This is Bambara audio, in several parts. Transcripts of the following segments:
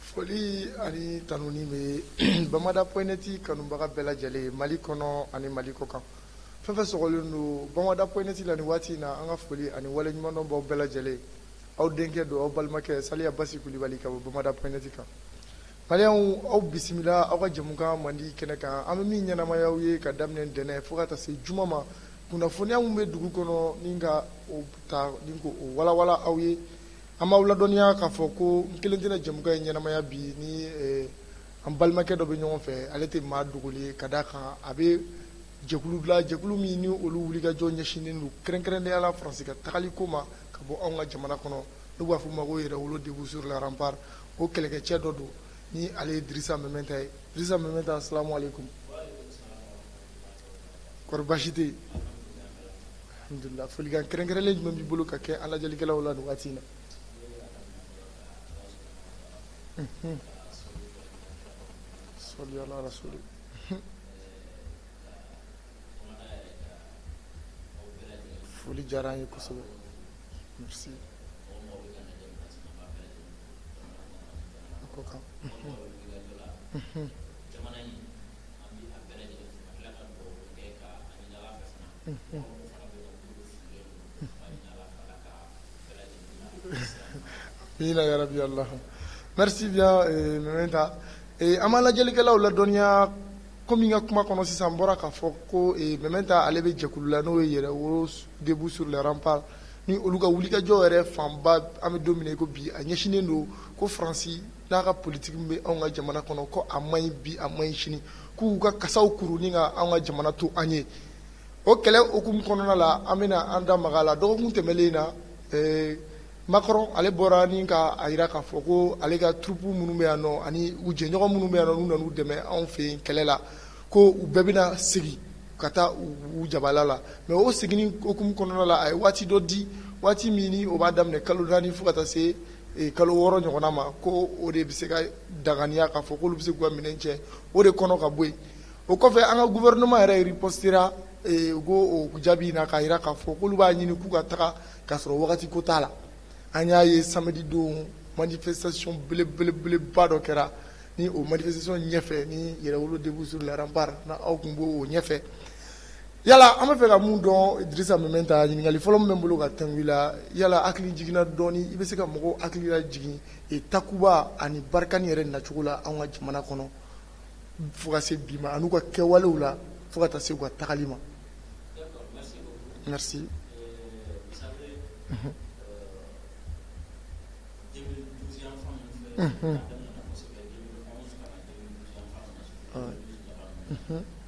Foli ani tanuni bɛ Bamada point net kanubaga bɛɛ lajɛlen mali kɔnɔ ani mali kɔ kan fɛn fɛn sɔgɔlen don Bamada point net la ni waati in na an ka foli ani waleɲumandɔn b'aw bɛɛ lajɛlen aw denkɛ don aw balimakɛ Saliya Basi Kulubali ka bɔ Bamada point net kan Maliyɛnw aw bisimila aw ka jɛmukan mandi kɛnɛ kan an bɛ min ɲɛnamaya aw ye ka daminɛ ntɛnɛn fo ka taa se juma ma kunnafoniya min bɛ dugu kɔnɔ ni ka o ta ni k'o walawala aw ye An b'aw ladɔnniya k'a fɔ ko n kelen tɛna jɛmukan in ɲɛnamaya bi ni an balimakɛ dɔ bɛ ɲɔgɔn fɛ ale tɛ maa dogolen ye ka d'a kan a bɛ jɛkulu la jɛkulu min ni olu wulikajɔ ɲɛsinnen don kɛrɛnkɛrɛnnenya la Faransi ka tagali ko ma ka bɔ anw ka jamana kɔnɔ n'u b'a fɔ o ma ko Yɛrɛwolo debout sur les remparts o kɛlɛkɛcɛ dɔ don ni ale ye Dirisa Mementa ye Dirisa Mementa asalamu aleykum kɔri baasi tɛ yen alhamdulilah folikan kɛrɛnkɛrɛnlen jumɛn b'i bolo ka kɛ an lajɛlikɛlaw la nin waati in na unhun salli ala rasuli unhun foli diyara an ye kosɛbɛ merci a ko kan unhun unhun Merci bien euh, Mementa ee an b'an lajɛlikɛlaw ladɔnniya komi n ka kuma kɔnɔ sisan n bɔra k'a fɔ ko ee Mementa ale bɛ jɛkulu la n'o ye Yɛrɛwolo debout sur les remparts ni olu ka wulikajɔ yɛrɛ fanba an bɛ don min na i ko bi a ɲɛsinnen don ko Faransi n'a ka politiki min bɛ anw ka jamana kɔnɔ ko a man ɲi bi a man ɲi sini k'u ka kasaw kuru ni ka anw ka jamana to an ye o kɛlɛ hukumu kɔnɔna la an bɛna an da maga a la dɔgɔkun tɛmɛnlen na Macron ale bɔra ni ka a jira k'a fɔ ko ale ka troupes minnu bɛ yan nɔ ani u jɛɲɔgɔn minnu bɛ yan nɔ n'u nana u dɛmɛ anw fɛ yen kɛlɛ la ko u bɛɛ bɛna segin ka taa u jabala la mais o seginni hukumu kɔnɔna la a ye waati dɔ di waati min o b'a daminɛ kalo naani fo ka taa se kalo wɔɔrɔ ɲɔgɔnna ma ko o de bɛ se ka danganiya k'a fɔ k'olu bɛ se k'u ka minɛn cɛ o de kɔnɔ ka bɔ yen o kɔfɛ an ka gouvernement yɛrɛ ripostera u k'o jaabi in na k'a jira k'a fɔ k'olu b'a ɲini k'u ka taga k'a sɔrɔ wagati ko t'a la an y'a ye samedi don manifestation belebelebeleba dɔ kɛra ni o manifestation ɲɛfɛ ni Yɛrɛwolo debout sur les remparts aw tun b'o ɲɛfɛ Yala an bɛ fɛ ka mun dɔn Dirisa Mɛmɛnta ɲininkali fɔlɔ min bɛ n bolo ka tɛnku i la yala hakilijigin na dɔɔni i bɛ se ka mɔgɔw hakili lajigin Takuba ani Barikani yɛrɛ nacogo la an ka jamana kɔnɔ fo ka se bi ma an'u ka kɛwalew la fo ka taa se u ka tagali ma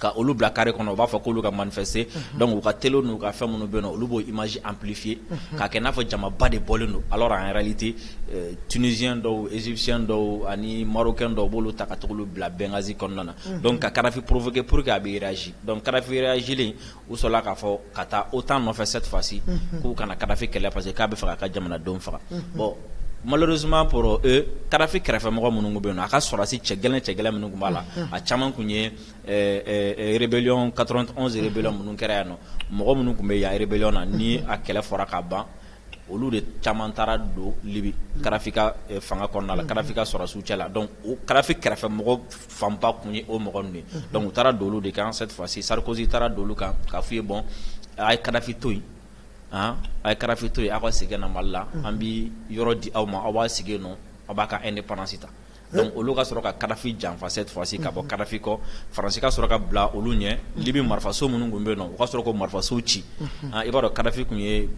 ka olu bila kari kɔnɔ u b'a fɔ k'olu ka man dɔnku u ka t n'u ka fɛn minnu bɛ na olu b'o i maz anpifye ka kɛ n'a fɔ jamaba de bɔlen don ala an yɛrɛli tɛ tzy dɔw ezsiy dɔw ani marokɛ dɔw b'olu ta ka bila bɛnkansi kɔnɔna na ka karafe poropkɛ porour que a bɛzsi dɔn karafe zelen u sɔrɔla k'a fɔ ka taa OTAN nɔfɛ cette fois ci k'u ka na Kadhafi kɛlɛ parce que k'a bɛ fɛ k'a ka jamanadenw faga bon malheureusement pour eux Kadhafi kɛrɛfɛmɔgɔ minnu bɛ yen nɔ a ka sɔrɔdasi cɛ gɛlɛn cɛ gɛlɛn minnu tun b'a la a caman tun ye rébellion 91 rébellion minnu kɛra yan nɔ mɔgɔ minnu tun bɛ yan rébellion na ni a kɛlɛ fɔra ka ban olu de caman taara don Libi Kadhafi ka fanga kɔnɔna la Kadhafi ka sɔrɔdasiw cɛ la donc o Kadhafi kɛrɛfɛmɔgɔ fanba tun ye o mɔgɔ ninnu ye donc u taara don olu de kan cette fois ci Sarkozy taara don olu kan k'a f'u ye bon a' ye Kadhafi to yen an a' ye Kadhafi to yen aw ka segin ka na Mali la an bi yɔrɔ di aw ma aw b'a sigi yen nɔ aw b'a ka indépendance ta donc olu ka sɔrɔ ka Kadhafi janfa cette fois ci ka bɔ Kadhafi kɔ Faransi ka sɔrɔ ka bila olu ɲɛ Libi marifaso minnu tun bɛ yen nɔ u ka sɔrɔ k'o marifaso ci i b'a dɔn Kadhafi tun ye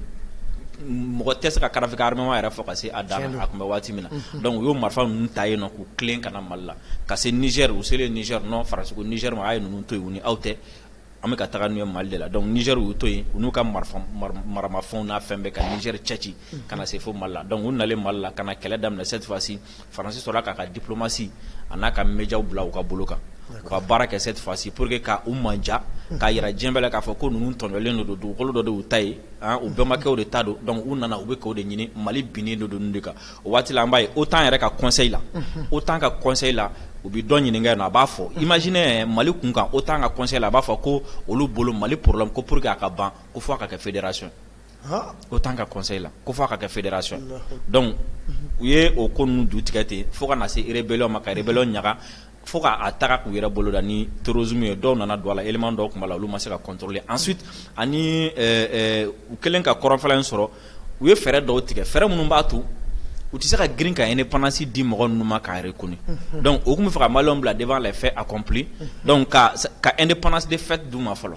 mɔgɔ tɛ se ka Kadhafi ka armement yɛrɛ fɔ ka se a dan na a tun bɛ waati min na donc u y'o marifa ninnu ta yen nɔ k'u tilen ka na Mali la ka se Niger u selen Niger nɔ Faransi ko Niger ma a ye ninnu to yen u ni aw tɛ An bɛ ka taga n'u ye Mali de la donc Niger y'u to yen u n'u ka marifa mar maramafɛnw n'a fɛn bɛɛ ka Niger cɛci unhun ka na se fo Mali la donc u nalen Mali la ka na kɛlɛ daminɛ cette fois ci Faransi sɔrɔla k'a ka diplomatie a n'a ka mediaw bila u ka bolo kan d'accord u ka baara kɛ cette fois ci pour que ka u mandiya unhun k'a yira diɲɛ bɛɛ la k'a fɔ ko ninnu tɔɲɔlen de don dugukolo dɔ de y'u ta ye haan u bɛnbakɛw de ta don donc u nana u bɛ k'o de ɲini Mali binnen de don ninnu de kan O waati an b' ye o t'an yɛrɛ ka kɔsɔn la o t'an ka kɔsɔn la u bɛ dɔn ɲininkaka na a b'a fɔ i masinɛ mali kun kan o t'an ka kɔsɔn la a b'a fɔ ko olu bolo mali porola ko pur que a ka ban ko fo ka kɛ feeredera sɔn o tan ka kɔsɔn la ko fo ka kɛ feeredera sɔn dɔnku u ye o ko ninnu du tigɛ ten fo ka na se ere bɛɛlaw ma ka yɛrɛ bɛlaw ɲaga fo ka taga k'u yɛrɛ bolo da ni terrorisme ye dɔw nana don a la élément dɔw tun b'a la olu ma se ka contrôler ensuite ani u kɛlen ka kɔrɔnfɛla in sɔrɔ u ye fɛɛrɛ dɔw tigɛ fɛɛrɛ minnu b'a to u tɛ se ka girin ka indépendance di mɔgɔ ninnu ma k'a reconnu donc u tun bɛ fɛ ka Malienw bila devant les faits accomplis donc ka indépendance de fait d'u ma fɔlɔ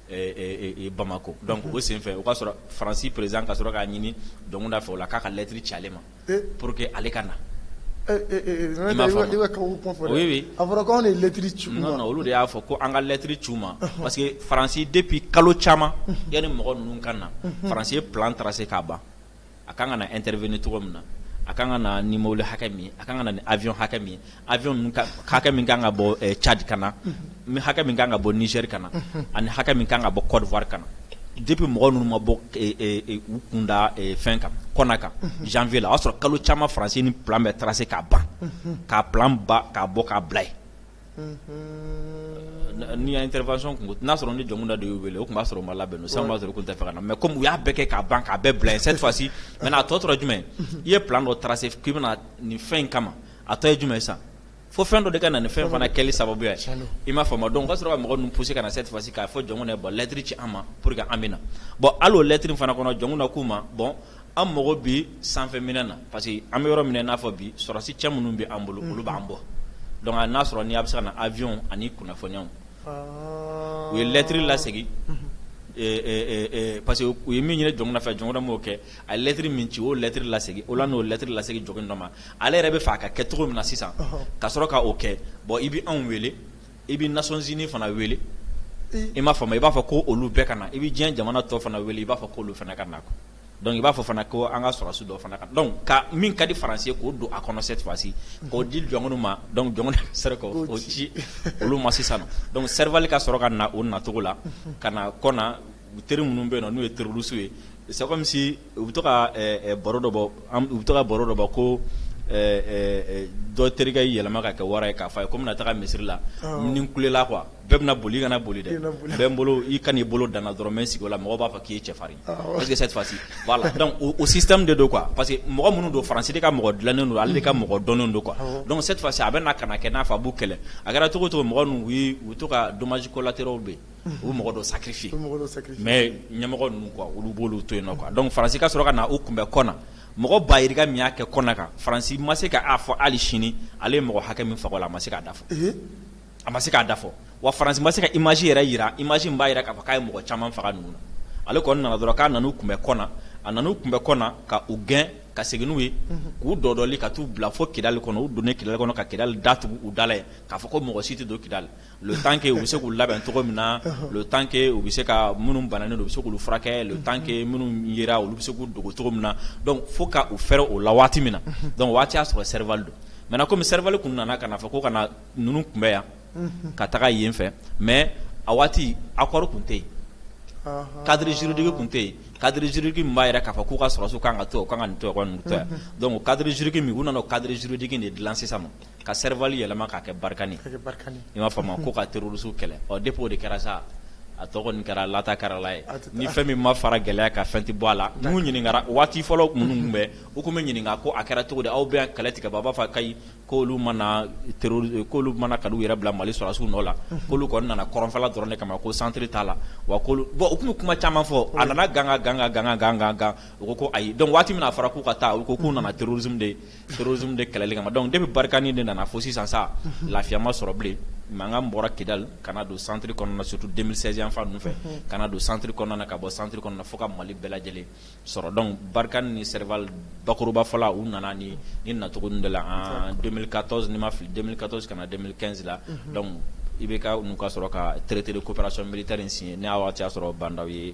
bamakɔ dɔnku o senfɛ o ka sɔrɔ faransi président ka sɔrɔ k'a ɲini jɔnkunda fɛ o la k'a ka lɛtiri ci ale ma pour que ale ka na oui a fɔra ko anw de ye lɛtiri ci u ma non olu de y'a fɔ ko an ka lɛtiri ci u ma parce que faransi depuis kalo caman yanni mɔgɔ ninnu ka na faransi ye plan tracé k'a ban a ka kan ka na intervenir cogo min na a ka kan ka na ni mɔbili hakɛ min a ka kan ka na ni avion hakɛ min avion hakɛ min ka kan ka bɔ cadi ka na hakɛ min ka kan ka bɔ nizɛri ka na ani hakɛ min ka kan ka bɔ kɔdiwari ka na depuis mɔgɔ ninnu ma bɔ u kunda fɛn kan kɔna kan janvier la o y'a sɔrɔ kalo caman faransi nin plan bɛɛ tracé k'a ban k'a plan ban k'a bɔ k'a bila yen Ni intervention kun n'a sɔrɔ ni jɔnkunda de y'u wele o tun b'a sɔrɔ o ma labɛn o sisan b'a sɔrɔ o tun tɛ fɛ ka na mɛ kɔmi u y'a bɛɛ kɛ k'a ban k'a bɛɛ bila yen cette fois-ci maintenant a tɔ tora jumɛn i ye plan dɔ tracé k'i bɛna nin fɛn in kama a tɔ ye jumɛn sisan fo fɛn dɔ de ka na nin fɛn fana kɛli sababu ye i m'a faamu dɔnku ka sɔrɔ ka mɔgɔ ninnu pousser ka na cette fois-ci k'a fɔ jɔnkunda bɔn lɛtiri ci an ma pour que an bɛ na bɔn hali o lɛtiri fana kɔnɔ jɔnkunda k'u ma bɔn an mago bɛ sanfɛ minɛn na parce que an bɛ yɔrɔ min n'a fɔ bi sɔrɔdasi cɛ minnu bɛ an bolo olu b'an bɔ dɔnku n'a sɔrɔ ni a bɛ se ka na avion ani kunnafoniw u ye lɛtiri lasegin parce que u ye min ɲini jɔnkunda fɛ jɔnkunda m'o kɛ a ye lɛtiri min ci o lɛtiri lasegin o la n'o lɛtiri lasegin jɔnkunda ma ale yɛrɛ bɛ fɛ a ka kɛ cogo min na sisan ka sɔrɔ k'o kɛ bɔn i bɛ anw wele I bɛ nations unies fana wele i m'a faamu i b'a fɔ ko olu bɛɛ ka na i bɛ diɲɛ jamana tɔ fana wele i b'a fɔ ko olu fana ka na dɔnku i b'a fɔ fana ko an ka sɔrɔdasi dɔ fana ka dɔnku ka min ka di faransi ye k'o don a kɔnɔ cette fois-ci k'o di jɔnkunda ma dɔnku jɔnkunda sera k'o ci olu ma sisan dɔnku serval ka sɔrɔ ka na o nacogo la ka na kɔna u teri minnu bɛ yen n'u ye terroriste ye c'est comme si u bɛ to ka baro dɔ bɔ u bɛ to ka baro dɔ bɔ ko dɔ terikɛ yɛlɛma ka kɛ wara ye k'a fɔ a ye ko n bɛna taa misiri la ni n kulela quoi bɛɛ bɛna boli i kana boli dɛ bɛ n bolo i ka n'i bolo da n na dɔrɔn n bɛ n sigi o la mɔgɔw b'a fɔ k'i ye cɛfarin cette fois-ci o système de don quoi parce que mɔgɔ minnu don faransi ka mɔgɔ dilannen don ale ka mɔgɔ dɔnnen don quoi dɔnku cette fois-ci a bɛ na ka kɛ n'a fɔ a b'u kɛlɛ a kɛra cogo o cogo mɔgɔ ninnu u to ka dommages collatéraux bɛ yen u bɛ mɔgɔ dɔ sacrifier mɛ ɲɛmɔgɔ ninnu olu b'olu to yen dɔnku faransi ka sɔrɔ ka na u kunbɛn kɔna mɔgɔ ba yirika min y'a kɛ kɔna kan faransi ma se k'a fɔ hali sini ale ye mɔgɔ hakɛ min faga o la a ma se k'a da fɔ a ma se k'a da fɔ wa faransi ma se ka image yɛrɛ jira image min b'a jira k'a fɔ k'a ye mɔgɔ caman faga ninnu na ale kɔni nana dɔrɔn k'a nan'u kunbɛn kɔna a nan'u kunbɛn kɔna ka u gɛn ka segin n'u ye k'u dɔdɔli ka taa u bila fo kidali kɔnɔ u donnen kidali kɔnɔ ka kidali datugu u da la k'a fɔ ko mɔgɔ si tɛ don kidali le temps que u bɛ se k'u labɛn cogo min na le temps que u bɛ se ka minnu bananen don u bɛ se k'u furakɛ le temps que minnu yera olu bɛ se k'u dogo cogo min na fo k'u fɛrɛ o la waati min na donc waati y'a sɔrɔ serval don maintenant comme serval tun nana ka fɔ ko ka na ninnu kunbɛn yan ka taga yen fɛ mais a waati accord tun tɛ yen cadre juridique tun tɛ yen cadre juridique min b'a yira k'a fɔ k'u ka sɔrɔsiw ka kan ka to ka kan ka to yan donc cadre juridique min u nana cadre juridique de dilan sisan ma ka serval yɛlɛma k'a kɛ barkani i m'a faamu ko ka terroristes kɛlɛ ɔ depuis o de kɛra sa a tɔgɔ kɛra lata kɛrala ye ni fɛn min ma fara gɛlɛya ka fɛn tɛ bɔ a la n'u ɲininkara waati fɔlɔ minnu bɛ u tun bɛ ɲininka ko a kɛra cogo di aw bɛ kɛlɛ tigɛ b'a fɔ k'ayi k'olu ma na teri olu ma na k'u yɛrɛ bila mali sɔrɔsiw nɔ la k'olu kɔni nana kɔrɔnfɛla dɔrɔn de kama ko centre t'a la wa bon u tun bɛ kuma caman fɔ a nana gan ka gan ka gan ka gan ka gan u ko ayi donc waati min a fɔra k'u ka taa u ko k'u nana terrorisme de Torroz de kɛlɛli kama ma dɔn de bɛ barikaani de nana fo sisan sa lafiyama sɔrɔ bilen mankan bɔra kidali ka don santiriri kɔnɔna sutu denmisɛnninfa fɛ ka don santiriri kɔnɔna ka bɔ santiriri kɔnɔna fo ka mali bɛɛ lajɛlen sɔrɔ dɔn barika ni seri bakɔrɔbafɔla u nana ni ni nacogo de la ka tɔn ni ma fili ka tɔn ka na denmisɛnninsi la i bɛ ka ka sɔrɔ ka tretiri koraso mitari in sini n'a y'a sɔrɔ banda ye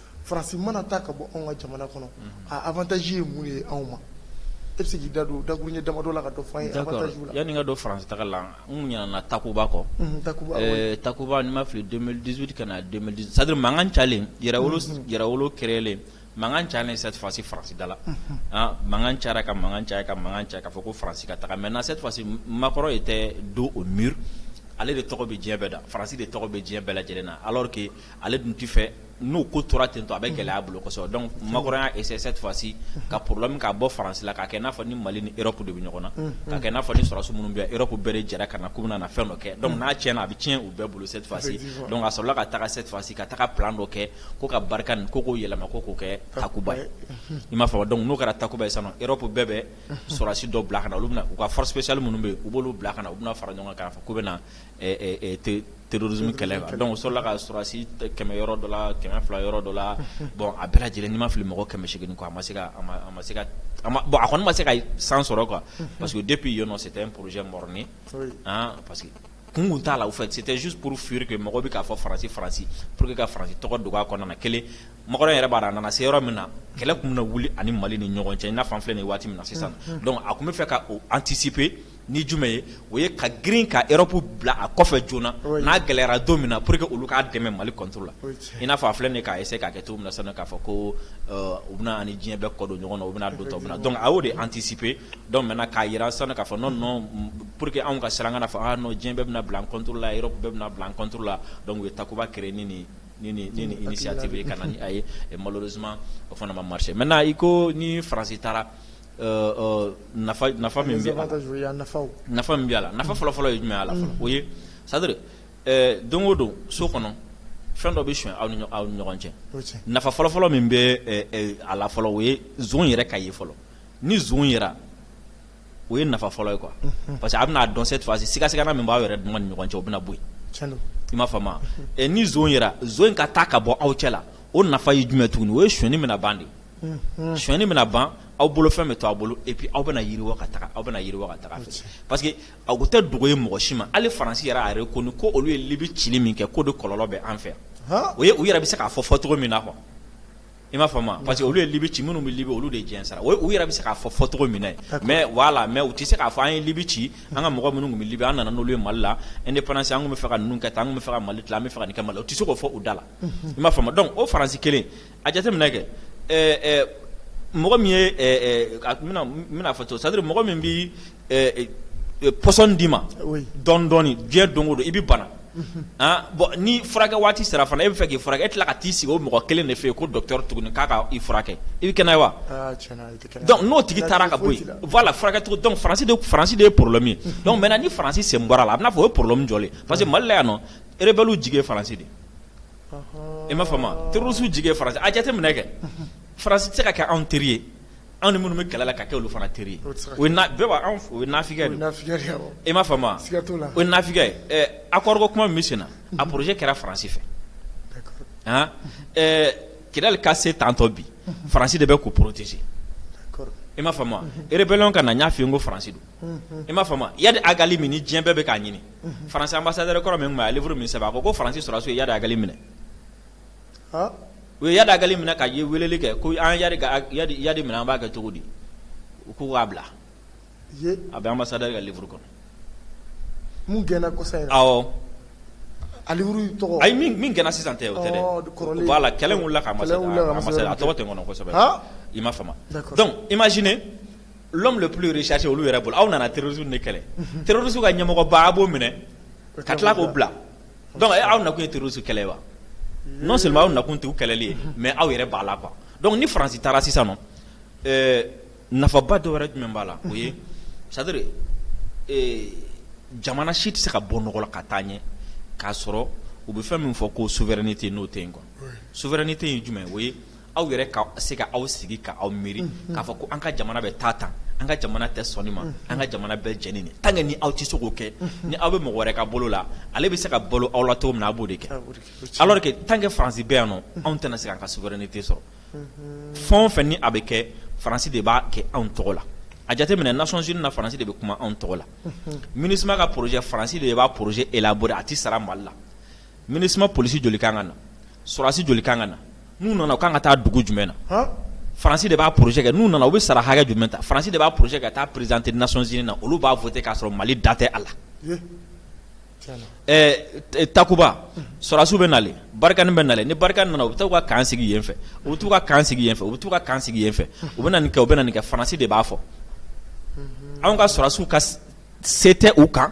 farasi mana ta ka bɔ anw ka jamana kɔnɔ ataji ye mun ye anw ma e bɛ da don da ye damadɔ la ka yanani ka don faransi ta la n ɲana takoba kɔ takoba ni ma fili dusutu ka sari makan calen kɛralen makan ca ni safasi farasida la makan ca ka makan caya ka makan cɛ k'a fɔ ko faransi ka taga mɛ na sefasi makɔrɔ ye tɛ don o mi ale de tɔgɔ bɛ diɲɛ bɛɛ da farasi de tɔgɔ bɛ diɲɛ bɛɛ lajɛlen na alake ale dun tɛ fɛ n'o ko tora ten to a bɛ gɛlɛya a bolo kosɛbɛ donc macron y'a essayé cette fois-ci ka problème k'a bɔ faransi la k'a kɛ i n'a fɔ ni mali ni europe de bɛ ɲɔgɔn na k'a kɛ i n'a fɔ ni sɔrɔsiw minnu bɛ yan europe bɛɛ jɛra ka na k'u bɛ na fɛn dɔ kɛ donc n'a tiɲɛna a bɛ tiɲɛ u bɛɛ bolo cette fois-ci donc a sɔrɔla ka taa cette fois-ci ka taa plan dɔ kɛ ko ka barkani ko k'o yɛlɛma ko k'o kɛ takuba ye i m'a faamu donc n'o kɛra takuba ye sisan europe bɛɛ bɛ sɔrɔsi dɔ bila ka na olu u ka force spéciale minnu bɛ yen u b'olu bila ka na u bɛna fara ɲɔgɔn kan k'a fɔ k'u bɛ na terrorisme kɛlɛ quoi donc o sɔrɔla ka sɔrɔsi kɛmɛ yɔrɔ dɔ la kɛmɛ fila yɔrɔ dɔ la bon a bɛɛ lajɛlen ni ma fili mɔgɔ kɛmɛ segin a ma se a kɔni ma se ka san sɔrɔ quoi parce que depuis yen c'était un projet mort-né parce que kun kun t'a la au fait c'était juste pour fuir que mɔgɔ bɛ k'a fɔ faransi faransi pour que ka faransi tɔgɔ dogo a kɔnɔna kelen macron yɛrɛ b'a dɔn a nana se yɔrɔ min na kɛlɛ tun bɛ wuli a ni mali ni ɲɔgɔn cɛ i n'a fɔ an filɛ nin waati min na sisan a tun bɛ fɛ ka anticiper ni jumɛn ye o ye ka girin ka Europe bila a kɔfɛ joona n'a gɛlɛyara don min na pour que olu k'a dɛmɛ mali contre la i n'a fɔ a filɛ k'a essayer k'a kɛ cogo min na sisan k'a fɔ ko u bɛna an ni diɲɛ bɛɛ kɔdon ɲɔgɔn na u bɛna don tɔ min na donc a y'o de anticiper donc maintenant k'a jira sisan k'a fɔ non pour que anw ka siran an ka fɔ non diɲɛ bɛɛ bɛna bila an contre la Europe bɛɛ bɛna bila an contre la donc u ye Takuba créer nin initiative ka na n'a ye malheureusement o fana ma marcher maintenant i ko ni faransi taara nafa bɛ nafa min bɛ a la nafa fɔlɔfɔlɔ ye jumɛn a la o ye c'est-à-dire don o don so kɔnɔ fɛn dɔ bɛ son aw ni aw ɲɔgɔn cɛ nafa fɔlɔfɔlɔ min bɛ a la fɔlɔ o ye nson yɛrɛ ka ye fɔlɔ ni nson yera o ye nafa fɔlɔ ye quoi parce que a b'a dɔn se tɔgɔsi sigasiga min b'a yɛrɛ dun ni ɲɔgɔn cɛ o bɛ bɔ i m'a faamu ni nson yera nson ka taa ka bɔ aw cɛ la o nafa ye jumɛn tugun o ye sonni bɛna ban de sonni bɛna ban aw bolo fɛn bɛ to a bolo et puis aw bɛna yiriwa ka taa ɲɛfɛ parce que a tɛ dogo ye mɔgɔ si ma hali faransi yɛrɛ a reconnu ko olu ye libi ci min kɛ ko de kɔlɔlɔ bɛ an fɛ o u yɛrɛ bɛ se k'a fɔ fɔ cogo min na quoi i m'a faamu parce que olu ye libi ci minnu bɛ libi olu de diɲɛ sara u yɛrɛ bɛ se k'a fɔ fɔ cogo min mais voilà mais u tɛ se k'a fɔ an ye libi ci an ka mɔgɔ minnu bɛ libi an nana n'u ye mali la indépendance an bɛ fɛ ka ninnu kɛ tan an bɛ fɛ ka mali tila an bɛ fɛ ka nin kɛ mali la u tɛ se k'o fɔ u da la i m'a faamu donc o faransi kelen a jateminɛ kɛ mɔgɔ min bɛna fɔ to c'est-à-dire mɔgɔ min bɛ poison d'i ma dɔɔni dɔɔni diɲɛ don o don i bɛ bana bon ni furakɛ waati sera fana e bɛ fɛ k'i furakɛ e tila ka t'i sigi o mɔgɔ kelen de fɛ yen ko docteur tuguni k'a ka i furakɛ i bɛ kɛnɛya wa donc n'o tigi taara ka bɔ yen voilà furakɛ cogo donc faransi de ye problème ye donc maintenant ni faransi sen bɔra la a bɛna fɔ o ye problème jɔlen parce que mali la yan nɔ rebellew jigi ye faransi de i m'a faamu terroristew jigi ye faransi a jateminɛ kɛ faransi tɛ se ka kɛ anw teri ye anw ni minnu bɛ kɛlɛ la ka kɛ olu fana teri ye o ye nafigi ye i m'a faamu o ye nafigi ye accord ko kuma min bɛ sen na a projet kɛra faransi fɛ Kidal ka se tantɔ bi faransi de bɛ k'o protéger i m'a faamu rébellion ka na n y'a f'i ye ko faransi don i m'a faamu Yadi Agali min ni diɲɛ bɛɛ bɛ k'a ɲini faransi anbasadɛri kɔrɔ min tun bɛ yen a ye livre min sɛbɛn a ko ko faransi sɔrɔdasiw ye Yadi Agali minɛ u ye Yadi Agali minɛ ka weleli kɛ ko an ye Yadi minɛ an b'a kɛ cogo di u ko k'a bila a bɛ anbasadɛri ka livre kɔnɔ min gɛnna kɔsa in na awɔ a livre in tɔgɔ ayi min gɛnna sisan tɛ o tɛ dɛ kɔrɔlen voilà kɛlɛ in wulila ka anbasadɛri a tɔgɔ tɛ n kɔnɔ kosɛbɛ i m'a faamu donc imaginez l'homme le plus recherché olu yɛrɛ bolo aw nana terrorisme de kɛlɛ terrorisme ka ɲɛmɔgɔba a b'o minɛ ka tila k'o bila donc aw nakun ye terrorisme kɛlɛ wa non seulement aw nakun tɛ kɛlɛli ye mais aw yɛrɛ b'a la quoi donc ni faransi taara sisan nafaba dɔ wɛrɛ jumɛn b'a la o ye c'est-à-dire jamana si tɛ se ka bɔ nɔgɔ la ka taa ɲɛ k'a sɔrɔ u bɛ fɛn min fɔ ko souveraineté n'o tɛ yen quoi souveraineté ye jumɛn o ye aw yɛrɛ ka se ka aw sigi ka aw miiri k'a fɔ ko an ka jamana bɛ taa tan an ka jamana tɛ sɔn nin ma an ka jamana bɛ jɛn ni nin tant que ni aw tɛ se k'o kɛ ni aw bɛ mɔgɔ wɛrɛ ka bolo la ale bɛ se ka balo aw la cogo min na a b'o de kɛ alors que tant que faransi bɛ yan nɔ anw tɛna se ka souveraineté sɔrɔ fɛn o fɛn ni a bɛ kɛ faransi de b'a kɛ anw tɔgɔ la a jateminɛ Nations Unies na faransi de bɛ kuma anw tɔgɔ la MINUSMA ka projet faransi de b'a projet élaboré a tɛ sara mali la MINUSMA polisi joli kan ka na sɔrɔdasi joli kan ka na n'u nana u kan ka taa dugu jumɛn na faransi de b'a projet kɛ n'u nana u bɛ sara hakɛ jumɛn ta faransi de b'a projet ka taa présenter Nations Unies na olu b'a voter k'a sɔrɔ mali da tɛ a la Takuba sɔrɔdasiw bɛ nalen Barkhane bɛ nalen ni Barkhane nana u bɛ taa u ka camp sigi yen fɛ u bɛ t'u ka camp sigi yen fɛ u bɛ t'u ka camp sigi yen fɛ u bɛ nin kɛ u bɛ nin kɛ faransi de b'a fɔ anw ka sɔrɔdasiw ka se tɛ u kan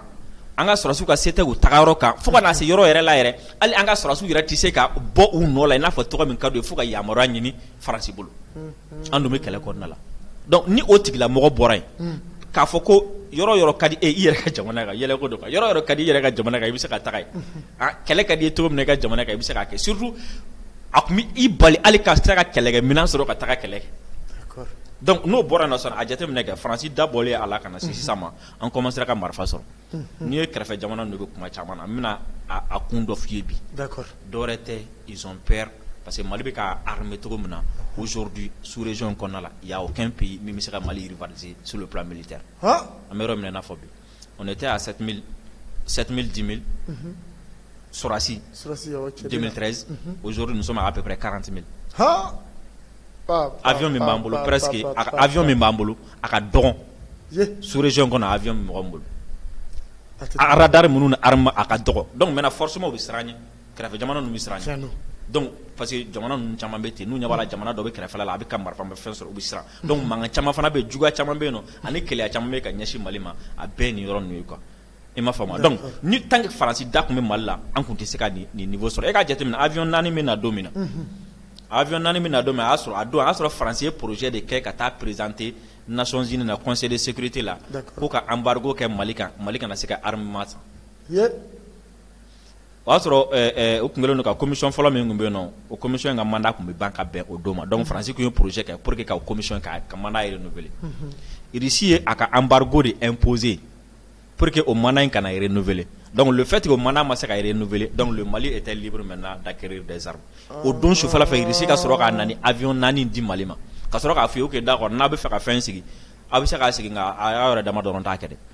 an ka sɔrɔdasiw ka se tɛ u tagayɔrɔ kan fo ka na se yɔrɔ yɛrɛ la yɛrɛ hali an ka sɔrɔdasiw yɛrɛ tɛ se ka bɔ u nɔ la i n'a fɔ cogo min ka d'u ye fo ka yamaruya ɲini Faransi bolo an dun bɛ kɛlɛ kɔnɔna la donc ni o tigilamɔgɔ bɔra yen k'a fɔ ko yɔrɔ o yɔrɔ ka d'i ye i yɛrɛ ka jamana kan yɛlɛko don quoi yɔrɔ o yɔrɔ ka di i yɛrɛ ka jamana kan i bɛ se ka taga yen. Kɛlɛ ka d'i ye cogo min i ka jamana kan i bɛ se k'a kɛ surtout a tun bɛ i bali hali ka se ka kɛlɛkɛminɛn sɔrɔ ka taga kɛlɛ kɛ donc n'o bɔra yen nɔ sisan a jateminɛ kɛ faransi da bɔlen a la ka na se sisan ma an commencera ka marifa sɔrɔ n'i ye kɛrɛfɛ jamana ninnu bɛ kuma caman na n bɛna a kun dɔ f'i ye bi dɔwɛrɛ tɛ ils ont peur parce que mali bɛ ka armer cogo min na aujourd'hui sous-région in kɔnɔna la y a aucun pays min bɛ se ka mali rivaliser sur le plan militaire an bɛ yɔrɔ min na i n'a fɔ bi o ne tɛ y'a sati sɔsi denmisɛnninre ozouru muso ma a bɛp karanti awy min b'an bolo pɛs que awy min b'an bolo a ka dɔn surezy kɔnɔ a mɔgɔ bolo aladari minnu ni a ka dɔgɔ dɔnku bɛ fɔsɔmɔgɔww bɛ siran ye kɛrɛfɛ jamana bɛ siran pa que jamana ninnu caman bɛ ten n'u ɲamana jamana dɔ bɛ kɛrɛfɛ la a bɛ ka marifa bɛ fɛn sɔrɔ u bɛ siran Donc mankan caman fana bɛ juguya caman bɛ yen nɔ ani keleya caman bɛ ka ɲɛsin mali ma a bɛɛ nin yɔrɔ ye quoi i m'a faamu donc ni tant que faransi da tun bɛ mali la an tun tɛ se ka nin niveau sɔrɔ e k'a jateminɛ avion naani bɛ na don min na avion naani bɛ na don min a y'a sɔrɔ a don a y'a sɔrɔ faransi ye projet de kɛ ka taa présenter Nations Unies na conseil de sécurité la ko ka embargo kɛ mali kan mali kana se ka armement o y'a sɔrɔ u tun kɛlen don ka commission fɔlɔ min tun bɛ yen nɔ, o commission in ka mandat tun bɛ ban ka bɛn o don ma donc France tun ye projet kɛ pour que ka o commission ka mandat in renouveler Russie ye a ka embargo de imposer pour que o mandat in kana renouveler donc le fait que o mandat ma se ka renouveler donc le Mali était libre maintenant d'acquérir des armes o don sufɛla fɛ Russie ka sɔrɔ ka na ni avion 4 di Mali ma ka sɔrɔ k'a fɔ ok d'accord n'a bɛ fɛ ka fɛn sigi, a bɛ se k'a sigi nka a y'a yɛrɛ dama dɔrɔn ta kɛ dɛ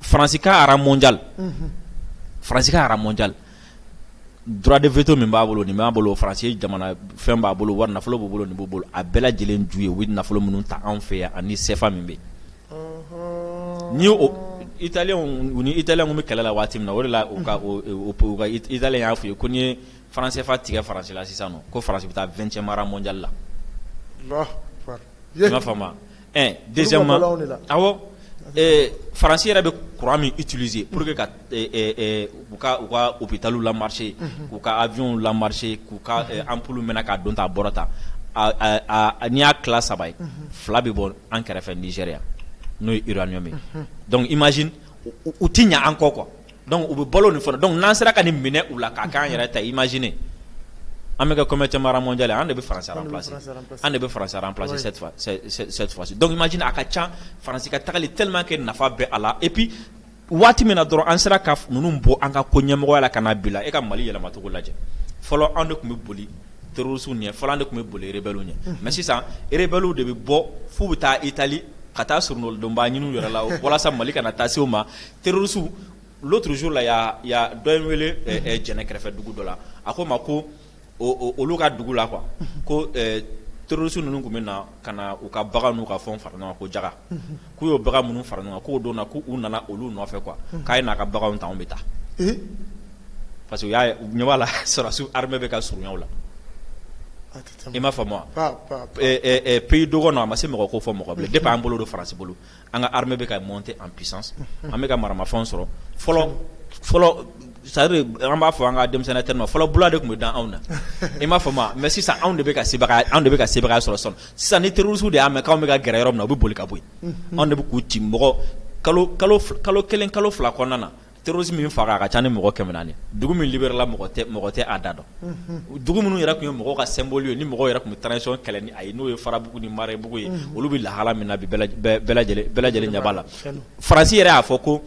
faransi ka rang mondial faransi ka rang mondial droit de veto min b'a bolo nin b'a bolo faransi jamana fɛn b'a bolo wari nafolo b'u bolo nin b'u bolo a bɛɛ lajɛlen ju ye u bɛ nafolo minnu ta anw fɛ yan ani CFA min bɛ yen n'i y'o italiyɛnw u ni italiyɛnw bɛ kɛlɛ la waati min na o de la u ka o o ka italiyɛn y'a f'u ye ko n'i ye franc CFA tigɛ faransi la sisan nɔ ko faransi bɛ taa 20ème rang mondial la. Alahu akbar i m'a faamu wa. Ɛɛ dɛsɛ ma aw faransi yɛrɛ bɛ kura min itulise pur que ka u ka u bɛ taa lamarise k'u ka awyw lamarise k'u ka anp mɛn k'a dɔn t' a bɔra ta n'i y'a ki saba ye fila bɛ bɔ an kɛrɛfɛ niɛrɛya n'o ye iraɲɔgɔnmi dɔnkuc i maz u tɛ ɲɛ an kɔ kuwa Donc u bɛ balo nin fana donc n'an sera ka nin minɛ u la k'a k'an yɛrɛ ta imagine an bɛ kɛ combientième mondial an de bɛ faransi an de bɛ faransi remplacer cette fois-ci donc imagine a ka ca faransi ka taali tellement que nafa bɛ a la et puis waati min dɔrɔn an sera ka ninnu bɔ an ka ko ɲɛmɔgɔya la ka n'a bila e ka mali yɛlɛmacogo lajɛ fɔlɔ anw de tun bɛ boli terroristes ɲɛ fɔlɔ an de tun bɛ boli rebelles ɲɛ mais sisan rebelles de bɛ bɔ f'u bɛ taa Italie ka taa soronadonba ɲini u yɛrɛ la walasa mali kana taa se u ma Terroristes l'autre jour la dɔ ye n wele jɛnɛ kɛrɛfɛ dugu dɔ la a ko n ma ko olu ka dugu la quoi ko terroristes ninnu tun bɛ na ka na u ka bagan n'u ka fɛnw fara ɲɔgɔn kan ko jaka k'u ye bagan minnu fara ɲɔgɔn kan k'o don na k'u nana olu nɔfɛ quoi k'a ye n'a ka baganw ta an bɛ taa parce que u ɲɛ b'a la sɔrɔdasiw armée bɛ ka surunya u la i m'a faamu wa pays dɔgɔnin a ma se mɔgɔ ko fɔ mɔgɔ de b'an bolo don faransi bolo an ka armée bɛ ka monter en puissance an bɛ ka maramafɛn sɔrɔ fɔlɔ fɔlɔ c'est-à-dire an b'a fɔ an ka denmisɛnninya terme fɔlɔ bula de tun bɛ da anw na i m'a faamu mais sisan anw de bɛ ka anw de bɛ ka sebagaya sɔrɔ sisan ni terroristes de y'a mɛn k'anw bɛ ka gɛrɛ yɔrɔ min na u bɛ boli ka bɔ yen anw de bɛ k'u ci mɔgɔ kalo kalo kelen kalo fila kɔnɔna na terroristes min faga a ka ca ni mɔgɔ 400 ye, dugu min libérer la mɔgɔ tɛ mɔgɔ tɛ a da dɔn, unhun, dugu minnu yɛrɛ tun ye mɔgɔw ka symbole ye ni mɔgɔw yɛrɛ tun bɛ transition kɛlɛ ni a ye n'o ye Farabugu ni Marɛbugu ye, unhun, olu bɛ lahala min na bi bɛɛ lajɛ bɛɛ lajɛlen bɛɛ lajɛlen ɲɛ b'a la, Faransi yɛrɛ y'a fɔ ko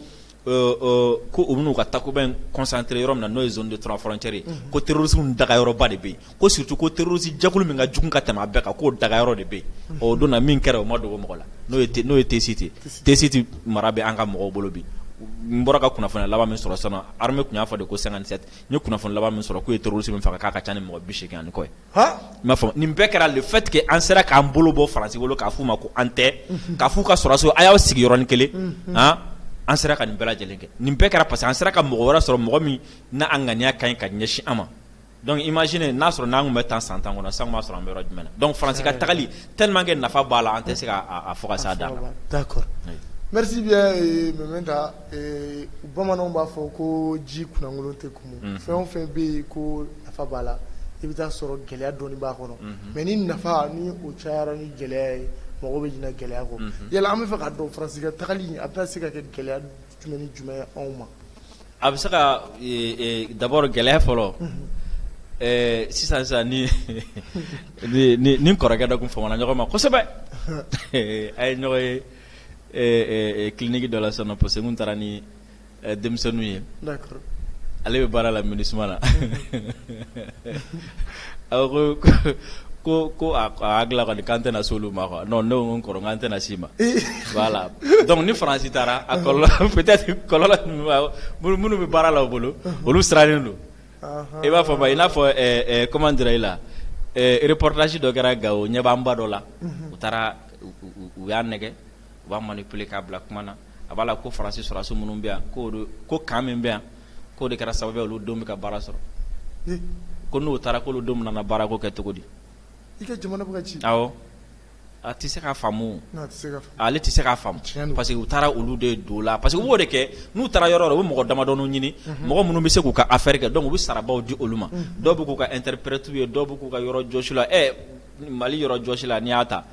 ɔ ɔ ko u bɛna u ka takuba in concentrer yɔrɔ min na n'o ye zone de trois frontières ye, unhun, ko terroristes dagayɔrɔba de bɛ yen ko surtout ko terroriste jɛkulu min ka jugu ka tɛmɛ a bɛɛ kan k'o dagayɔrɔ de bɛ yen, unhun, ɔ o don na min kɛra o ma dogo mɔgɔ la n'o ye n'o ye Tessit ye Tessit mara bɛ an ka mɔgɔw bolo bi n bɔra ka kunnafoni laban min sɔrɔ sisan non armée tun y'a fɔ de ko 57 n ye kunnafoni laban min sɔrɔ k'u ye terroriste min faga k'a ka ca ni mɔgɔ 80 ani kɔ ye, han, i m'a faamu, nin bɛɛ kɛra le fait que an sera k'an bolo bɔ France bolo k'a f'u ma ko an tɛ, unhun, k'a f'u ka sɔrɔdasiw a y'aw sigi yɔrɔnin kelen, unhun, an, an sera ka nin bɛɛ lajɛlen kɛ, nin bɛɛ kɛra parce que an sera ka mɔgɔ wɛrɛ sɔrɔ mɔgɔ min n'a ŋaniya ka ɲi ka ɲɛsin an ma Donc imagine n'a sɔrɔ n'an tun bɛ tan san tan kɔnɔ san b'a sɔrɔ an bɛ yɔrɔ jumɛn na donc faransi ka tagali tellement que nafa b'a la an tɛ se k'a fɔ ka s'a dan na d'accord merci bien Mementa bamananw b'a fɔ ko ji kunkolon tɛ kumu fɛn o fɛn bɛ yen ko nafa b'a la i bɛ t'a sɔrɔ gɛlɛya dɔɔni b'a kɔnɔ mais ni nafa ni o cayara ni gɛlɛya ye mɔgɔ bɛ ɲina gɛlɛya kɔ yala an b'a fɛ k'a dɔn faransi ka taali a bɛ se ka kɛ gɛlɛya jumɛn ni jumɛn ye anw ma A bɛ se ka d'abord gɛlɛya fɔlɔ sisan sisan ne ni n kɔrɔkɛ dɔ tun famana ɲɔgɔn ma kosɛbɛ an ye ɲɔgɔn ye clinique dɔ la sisan parce que n tun taara ni denmisɛnninw ye ale bɛ baara la MINUSMA la A ko k'a hakilila kɔni k'an tɛna se olu ma quoi non ne ko n kɔrɔ an tɛna s'i ma voilà donc ni faransi taara a peut-être kɔlɔlɔ minnu bɛ baara la u bolo olu sirannen don i b'a fɔ i n'a fɔ comment dirais-je la reportage dɔ kɛra Gao ɲɛbaaba dɔ la u taara u y'a nɛgɛ u b'a manipuler k'a bila kuma na a b'a la ko faransi sɔrɔdasiw minnu bɛ yan ko ko camp min bɛ yan k'o de kɛra sababu ye olu denw bɛ ka baara sɔrɔ ko n'u taara k'olu denw nana baarako kɛ cogo di i ka jamana bɛ ka ci a tɛ se k'a faamu ale tɛ se k'a faamu parce que u taara olu de don la parce que u b'o de kɛ n'u taara yɔrɔ o yɔrɔ u bɛ mɔgɔ damadɔ ɲini mɔgɔ minnu bɛ se k'u ka affaire kɛ donc u bɛ sarabaw di olu ma dɔw bɛ k'u ka interprète ye dɔw bɛ k'u ka yɔrɔ jɔsila ye mais hali yɔrɔ jɔsila n'i y'a ta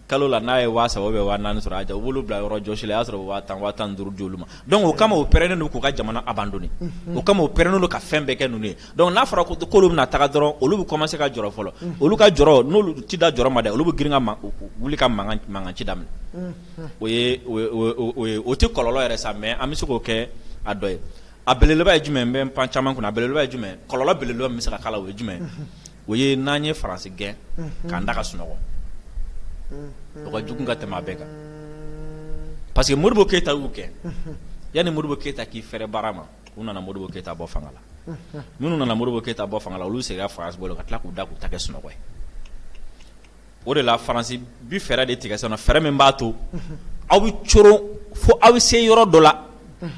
Kalo la n'a ye waa saba ou bien waa naani sɔrɔ a jɛ u b'olu bila yɔrɔ jɔsi la i y'a sɔrɔ waa tan waa tan ni duuru d'olu ma donc o kama o pɛrɛnnen don k'u ka jamana abandonner o kama o pɛrɛnnen don ka fɛn bɛɛ kɛ ninnu ye donc n'a fɔra ko k'olu bɛna taga dɔrɔn olu bɛ commencer ka jɔrɔ fɔlɔ olu ka jɔrɔ n'olu ti dan jɔrɔ ma dɛ olu bɛ girin ka wuli ka mankan ci daminɛ o o tɛ kɔlɔlɔ yɛrɛ ye sa mais an bɛ se k'o kɛ a dɔ ye a belebeleba ye jumɛn n bɛ pan caman kunna a belebeleba ye jumɛn kɔlɔlɔ belebeleba min bɛ se ka k'a la o ye jumɛn o ye n'an ye faransi gɛn k'an da ka sunɔgɔ o ka jugu ka tɛmɛ a bɛɛ kan parce que Modibo Keyita y'u gɛn yanni Modibo Keyita k'i fɛrɛ baara ma u nana Modibo Keyita bɔ fanga la minnu nana Modibo Keyita bɔ fanga olu seginna faransi bolo ka tila k'u da k'u ta kɛ sunɔgɔ ye o de la faransi bi fɛɛrɛ de tigɛ sisan fɛɛrɛ min b'a to aw bɛ coron fo aw bɛ se yɔrɔ dɔ la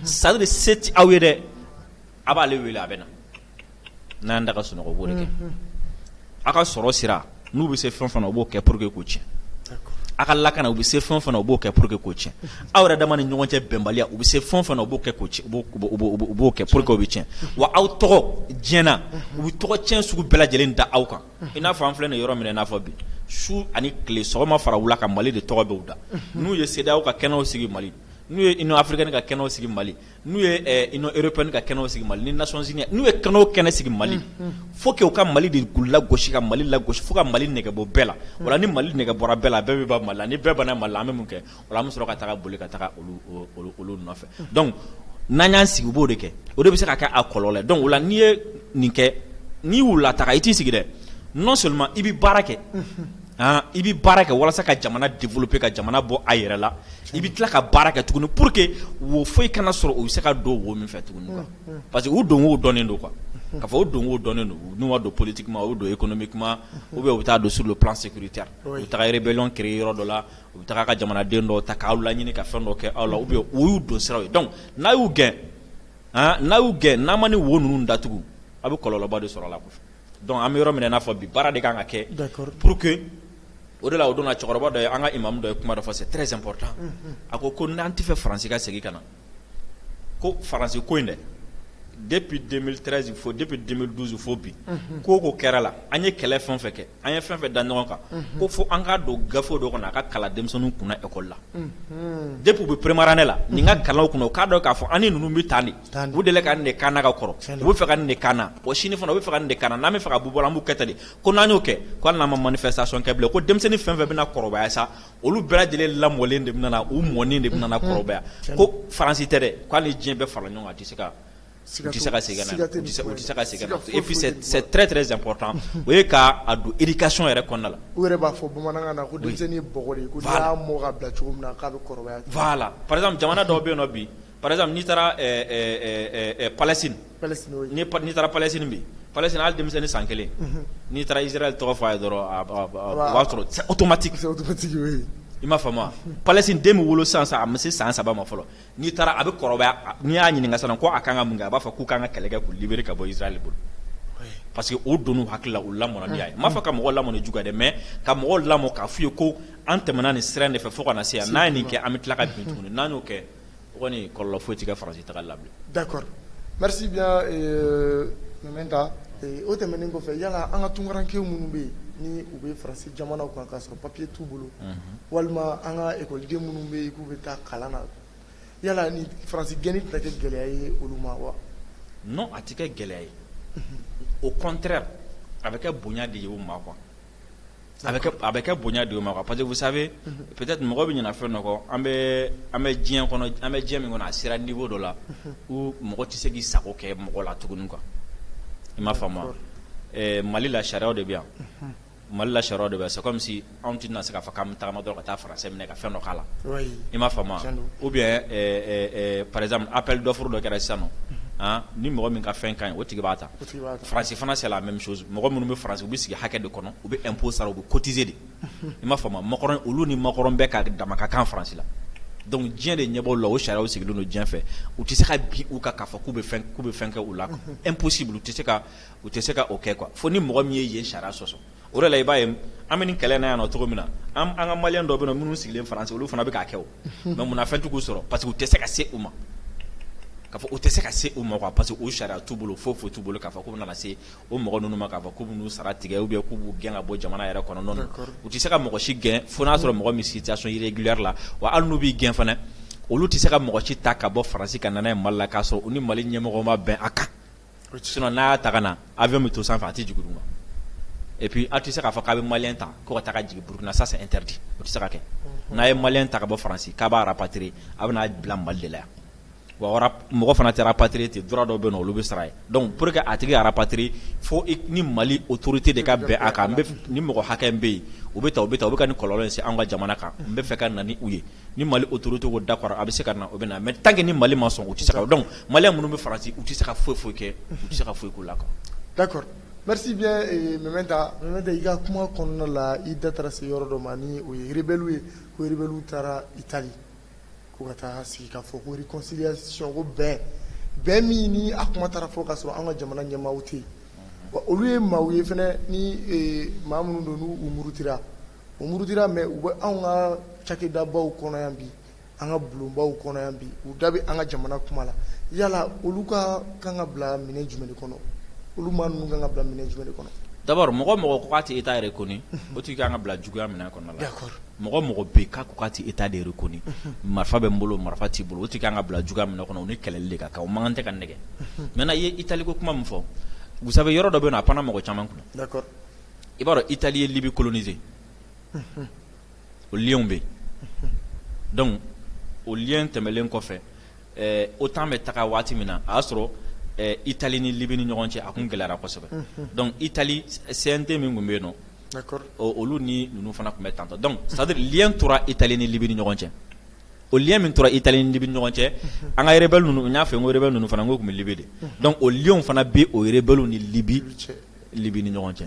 c'est à dire se tɛ aw ye dɛ aw b'ale wele a bɛ na n'an da ka sunɔgɔ u b'o de kɛ aw ka sɔrɔ sira n'u bɛ se fɛn fɛn na u b'o kɛ pour que k'o cɛn aw ka lakana u bɛ se fɛn fɛn na u b'o kɛ pour que k'o cɛn aw yɛrɛ dama ni ɲɔgɔn cɛ bɛnbaliya u bɛ se fɛn fɛn na u b'o kɛ ko u b'o kɛ pour que k'aw bɛɛ cɛn wa aw tɔgɔ diɲɛ na u bɛ tɔgɔ cɛn sugu bɛɛ lajɛlen da aw kan i n'a fɔ an filɛ nin yɔrɔ min na i n'a fɔ bi su ani tile sɔgɔma fara wula kan mali de tɔgɔ b'u da n'u ye CEDEAO ka kɛnɛw sigi mali n'u ye Union africaine ka kɛnɛw sigi mali N'u ye Union européenne ka kɛnɛ sigi mali ni Nations unies n'u ye kɛnɛ o kɛnɛ sigi mali faut que u ka mali de lagosi ka mali lagosi fo ka mali nɛgɛ bɔ bɛɛ la wa ni mali nɛgɛ bɔra bɛɛ la bɛɛ bɛ ban mali la ni bɛɛ banna mali la an bɛ mun kɛ o an bɛ sɔrɔ ka taa boli ka taa olu nɔfɛ donc n'an y'an sigi u b'o de kɛ o de bɛ se ka kɛ a kɔlɔlɔ ye donc o la n'i ye nin kɛ n'i y'u lataa i t'i sigi dɛ non seulement i bɛ baara kɛ i bɛ baara kɛ walasa ka jamana développer ka jamana bɔ a yɛrɛ la i bɛ tila ka baara kɛ tuguni pour que wo foyi kana sɔrɔ u bɛ se ka don wo min fɛ tuguni quoi parce que u don wo dɔnnen don quoi k'a fɔ u don wo dɔnnen don n'u ma don politiquement u don économiquement ou bien u bɛ taa don sur le plan sécuritaire u bɛ taga rébellion créer yɔrɔ dɔ la u bɛ taga ka jamanaden dɔ ta k'aw laɲini ka fɛn dɔ kɛ aw la ou bien o y'u don siraw ye donc n'a y'u gɛn n'a y'u gɛn n'a ma nin wo ninnu datugu aw bɛ kɔlɔlɔba de sɔrɔ a la Donc an bɛ yɔrɔ min na i n'a fɔ bi baara de ka kan ka kɛ pour que o de la o don na cɛkɔrɔba dɔ ye an ka imamu dɔ ye kuma dɔ fɔ c'est très important a ko ko n'an tɛ fɛ faransi ka segin ka na ko faransi ko in dɛ depuis deux mille treize fo depuis deux mille douze fo bi ko ko kɛra la an ye kɛlɛ fɛn fɛn kɛ an ye fɛn fɛn da ɲɔgɔn kan ko fo an k'a don gafe dɔ kɔnɔ a ka kalan denmisɛnninw kunna école la depuis u bɛ première année la nin ka kalan u kunna u k'a dɔn k'a fɔ an ni ninnu bɛ taa di u delila ka nin de k'an na ka kɔrɔ u bɛ fɛ ka nin de k'an na o sini fana u bɛ fɛ ka nin de k'an na n'an bɛ fɛ ka b'u bolo an b'u kɛ tan de ko n'an y'o kɛ ko hali n'an ma manifestation kɛ bilen ko denmisɛnnin fɛn fɛn bɛna kɔrɔbaya sa olu bɛɛ lajɛlen lamɔlen de bɛ u mɔnen de bɛna kɔrɔbaya ko faransi tɛ dɛ ko hali diɲɛ bɛɛ fara ɲɔgɔn kan a tɛ se ka tɛ se ka segin tɛ ka segin c'est très très important o ye k'a don éducation yɛrɛ kɔnɔna la u yɛrɛ b'a fɔ bamanankan na ko denmisɛnnin ye bɔgɔ de ye ko n'i y'a mɔ ka bila cogo min na k'a bɛ kɔrɔbaya voilà par exemple jamana dɔw bɛ yen nɔ bi par exemple n'i taara Palestine n'i taara Palestine bi Palestine hali denmisɛnnin ni san kelen n'i taara Israël tɔgɔ fɔ a ye dɔrɔn o b'a sɔrɔ c'est automatique i m'a faamu Palestine den bɛ wolo sisan a ma se san saba ma fɔlɔ n'i taara a bɛ kɔrɔbaya n'i y'a ɲininka ko a ka kan ka mun kɛ a b'a fɔ k'u kan ka kɛlɛ kɛ k'u libérer ka bɔ Israël bolo parce que o donna u hakili la u lamɔna n'a ye n m'a fɔ ka mɔgɔ lamɔ ni juguya dɛ mais ka mɔgɔ lamɔ k'a f'u ye ko an tɛmɛna nin sira in de fɛ fo ka na se yan n'an ye nin kɛ an bɛ tila ka bin tuguni n'an y'o kɛ kɔni kɔlɔlɔ foyi tɛ kɛ France tagali la bilen, d'accord merci bien euh Mɛmɛnta o tɛmɛnen kɔfɛ yala an ka tunkarankew minnu bɛ yen ni u bɛ France jamana kan k'a sɔrɔ papier t'u bolo, unhun, walima an ka école-den minnu bɛ yen k'u bɛ taa kalan na yala ni France gɛnni tɛna kɛ gɛlɛya ye olu ma wa? non a tɛ kɛ gɛlɛya ye au contraire a bɛ kɛ bonya de ye u ma quoi A a bɛ kɛ bonya de ye u ma quoi parce que vous savez peut-être mɔgɔ bɛ ɲina fɛn dɔ kɔ an bɛ an bɛ diɲɛ an bɛ diɲɛ min kɔnɔ a sera niveau dɔ la où mɔgɔ tɛ se k'i sago kɛ mɔgɔ la tuguni quoi i m'a faamu wa mali la sariya de bɛ yan mali la sariya de bɛ yan c'est comme si anw tɛ na se k'a fɔ k'an bɛ taama dɔrɔn ka taa français minɛ ka fɛn dɔ k'a la i m'a faamu wa ou bien par exemple appel d'offre dɔ kɛra sisan nɔ ni mɔgɔ min ka fɛn ka ɲi o tigi b'a ta Faransi fana c'est la même chose mɔgɔ minnu bɛ Faransi u bɛ sigi hakɛ de kɔnɔ u bɛ impôt sara u bɛ cotiser de i m'a faamu wa Macron olu ni Macron bɛɛ ka dama ka kan Faransi la donc diɲɛ de ɲɛ b'o la o sariya sigilen don diɲɛ fɛ u tɛ se ka bin u kan k'a fɔ k'u bɛ fɛn kɛ u la impossible u tɛ se ka o kɛ quoi fo ni mɔgɔ min ye yen sariya sɔsɔ o de la i b'a ye an bɛ nin kɛlɛ in na yan nɔ cogo min na an an ka maliyɛn dɔw bɛ yen nɔ minnu sigilen Faransi olu fana bɛ k'a kɛ o mais mun na fɛn tɛ k'u sɔrɔ parce que u tɛ se ka se u ma k'a fɔ u tɛ se ka se u ma quoi parce que o sariya t'u bolo foyi foyi t'u bolo k'a fɔ k'u bɛna na se o mɔgɔ ninnu ma k'a fɔ k'u bɛn'u sara tigɛ ou bien k'u b'u gɛn ka bɔ jamana yɛrɛ kɔnɔ non non u tɛ se ka mɔgɔ si gɛn fo n'a sɔrɔ mɔgɔ min situation irrégulière la wa hali n'u b'i gɛn fana olu tɛ se ka mɔgɔ si ta ka bɔ Faransi ka na n'a ye Mali la k'a sɔrɔ u ni Mali ɲɛmɔgɔ ma bɛn a kan sinon n'a y'a ta ka na avion bɛ to sanfɛ a tɛ jigin duguma et puis a tɛ se k'a fɔ k'a bɛ malien ta ko ka taa ka jigin Burukina ça c'est interdit o tɛ se ka kɛ n'a ye malien ta ka bɔ Faransi k'a b'a rapatrier a bɛna bila Mali de la yan wa mɔgɔ fana tɛ rapatrier ten droit dɔw bɛ yen nɔ olu bɛ sara ye donc pour que a tigi ka rapatrier fo ni Mali autorité de ka bɛn a kan nin mɔgɔ hakɛ in bɛ yen u bɛ tan u bɛ tan u bɛ ka nin kɔlɔlɔ in se anw ka jamana kan n bɛ fɛ ka na ni u ye ni mali autorité ko d'accord a bɛ se ka na o bɛ na mais tant que ni mali ma sɔn u tɛ se ka donc malien minnu bɛ Faransi u tɛ se ka foyi foyi kɛ u tɛ se ka foyi k'u la quoi d'accord merci bien Mɛmɛnta Mɛmɛnta i ka kuma kɔnɔna la i da taara se yɔrɔ dɔ ma ni o ye rebellew ye ko rebellew taara Italie ko ka taa sigi k'a fɔ ko réconciliation ko bɛn bɛn min ni a kuma taara fɔ k'a sɔrɔ an ka jamana ɲɛmaaw tɛ yen olu ye maaw ye fana ni maa minnu don n' u murutira U murutira mais u bɛ anw ka cakɛdabaw kɔnɔ yan bi, an ka bulonbaw kɔnɔ yan bi, u da bɛ an ka jamana kuma la, yala olu ka kan ka bila minɛ jumɛn de kɔnɔ? Olu maa ninnu ka kan ka bila minɛ jumɛn de kɔnɔ? D'abord mɔgɔ o mɔgɔ ko k'a tɛ Etat reconnu o tigi ka kan ka bila juguya minɛ kɔnɔna la, d'accord, mɔgɔ o mɔgɔ bɛ yen k'a ko k'a tɛ Etat de reconnu marifa bɛ n bolo marifa t'i bolo o tigi ka kan ka bila juguya minɛ kɔnɔ o ni kɛlɛli de ka kan, o man kan tɛ ka nɛgɛn, unhun, maintenant i ye Italie ko kuma min fɔ, vous savez yɔrɔ dɔ bɛ yen nɔ a panna mɔgɔ caman kunna, d'accord i b'a dɔn Italie ye Libye coloniser o lien bɛ yen donc o lien tɛmɛlen kɔfɛ OTAN bɛ taga waati min na a y'a sɔrɔ Italie ni Libye ni ɲɔgɔn cɛ a tun gɛlɛyara kosɛbɛ donc Italie CNT min tun bɛ yen nɔ olu ni ninnu fana tun bɛ tan donc c'est à dire lien tora Italie ni Libye ni ɲɔgɔn cɛ o lien min tora Italie ni Libye ɲɔgɔn cɛ an ka rebelle ninnu n'a fɛ n ko rebelle ninnu fana n ko tun bɛ Libye de donc o lien fana bɛ o rebelle ni Libye cɛ Libye ni ɲɔgɔn cɛ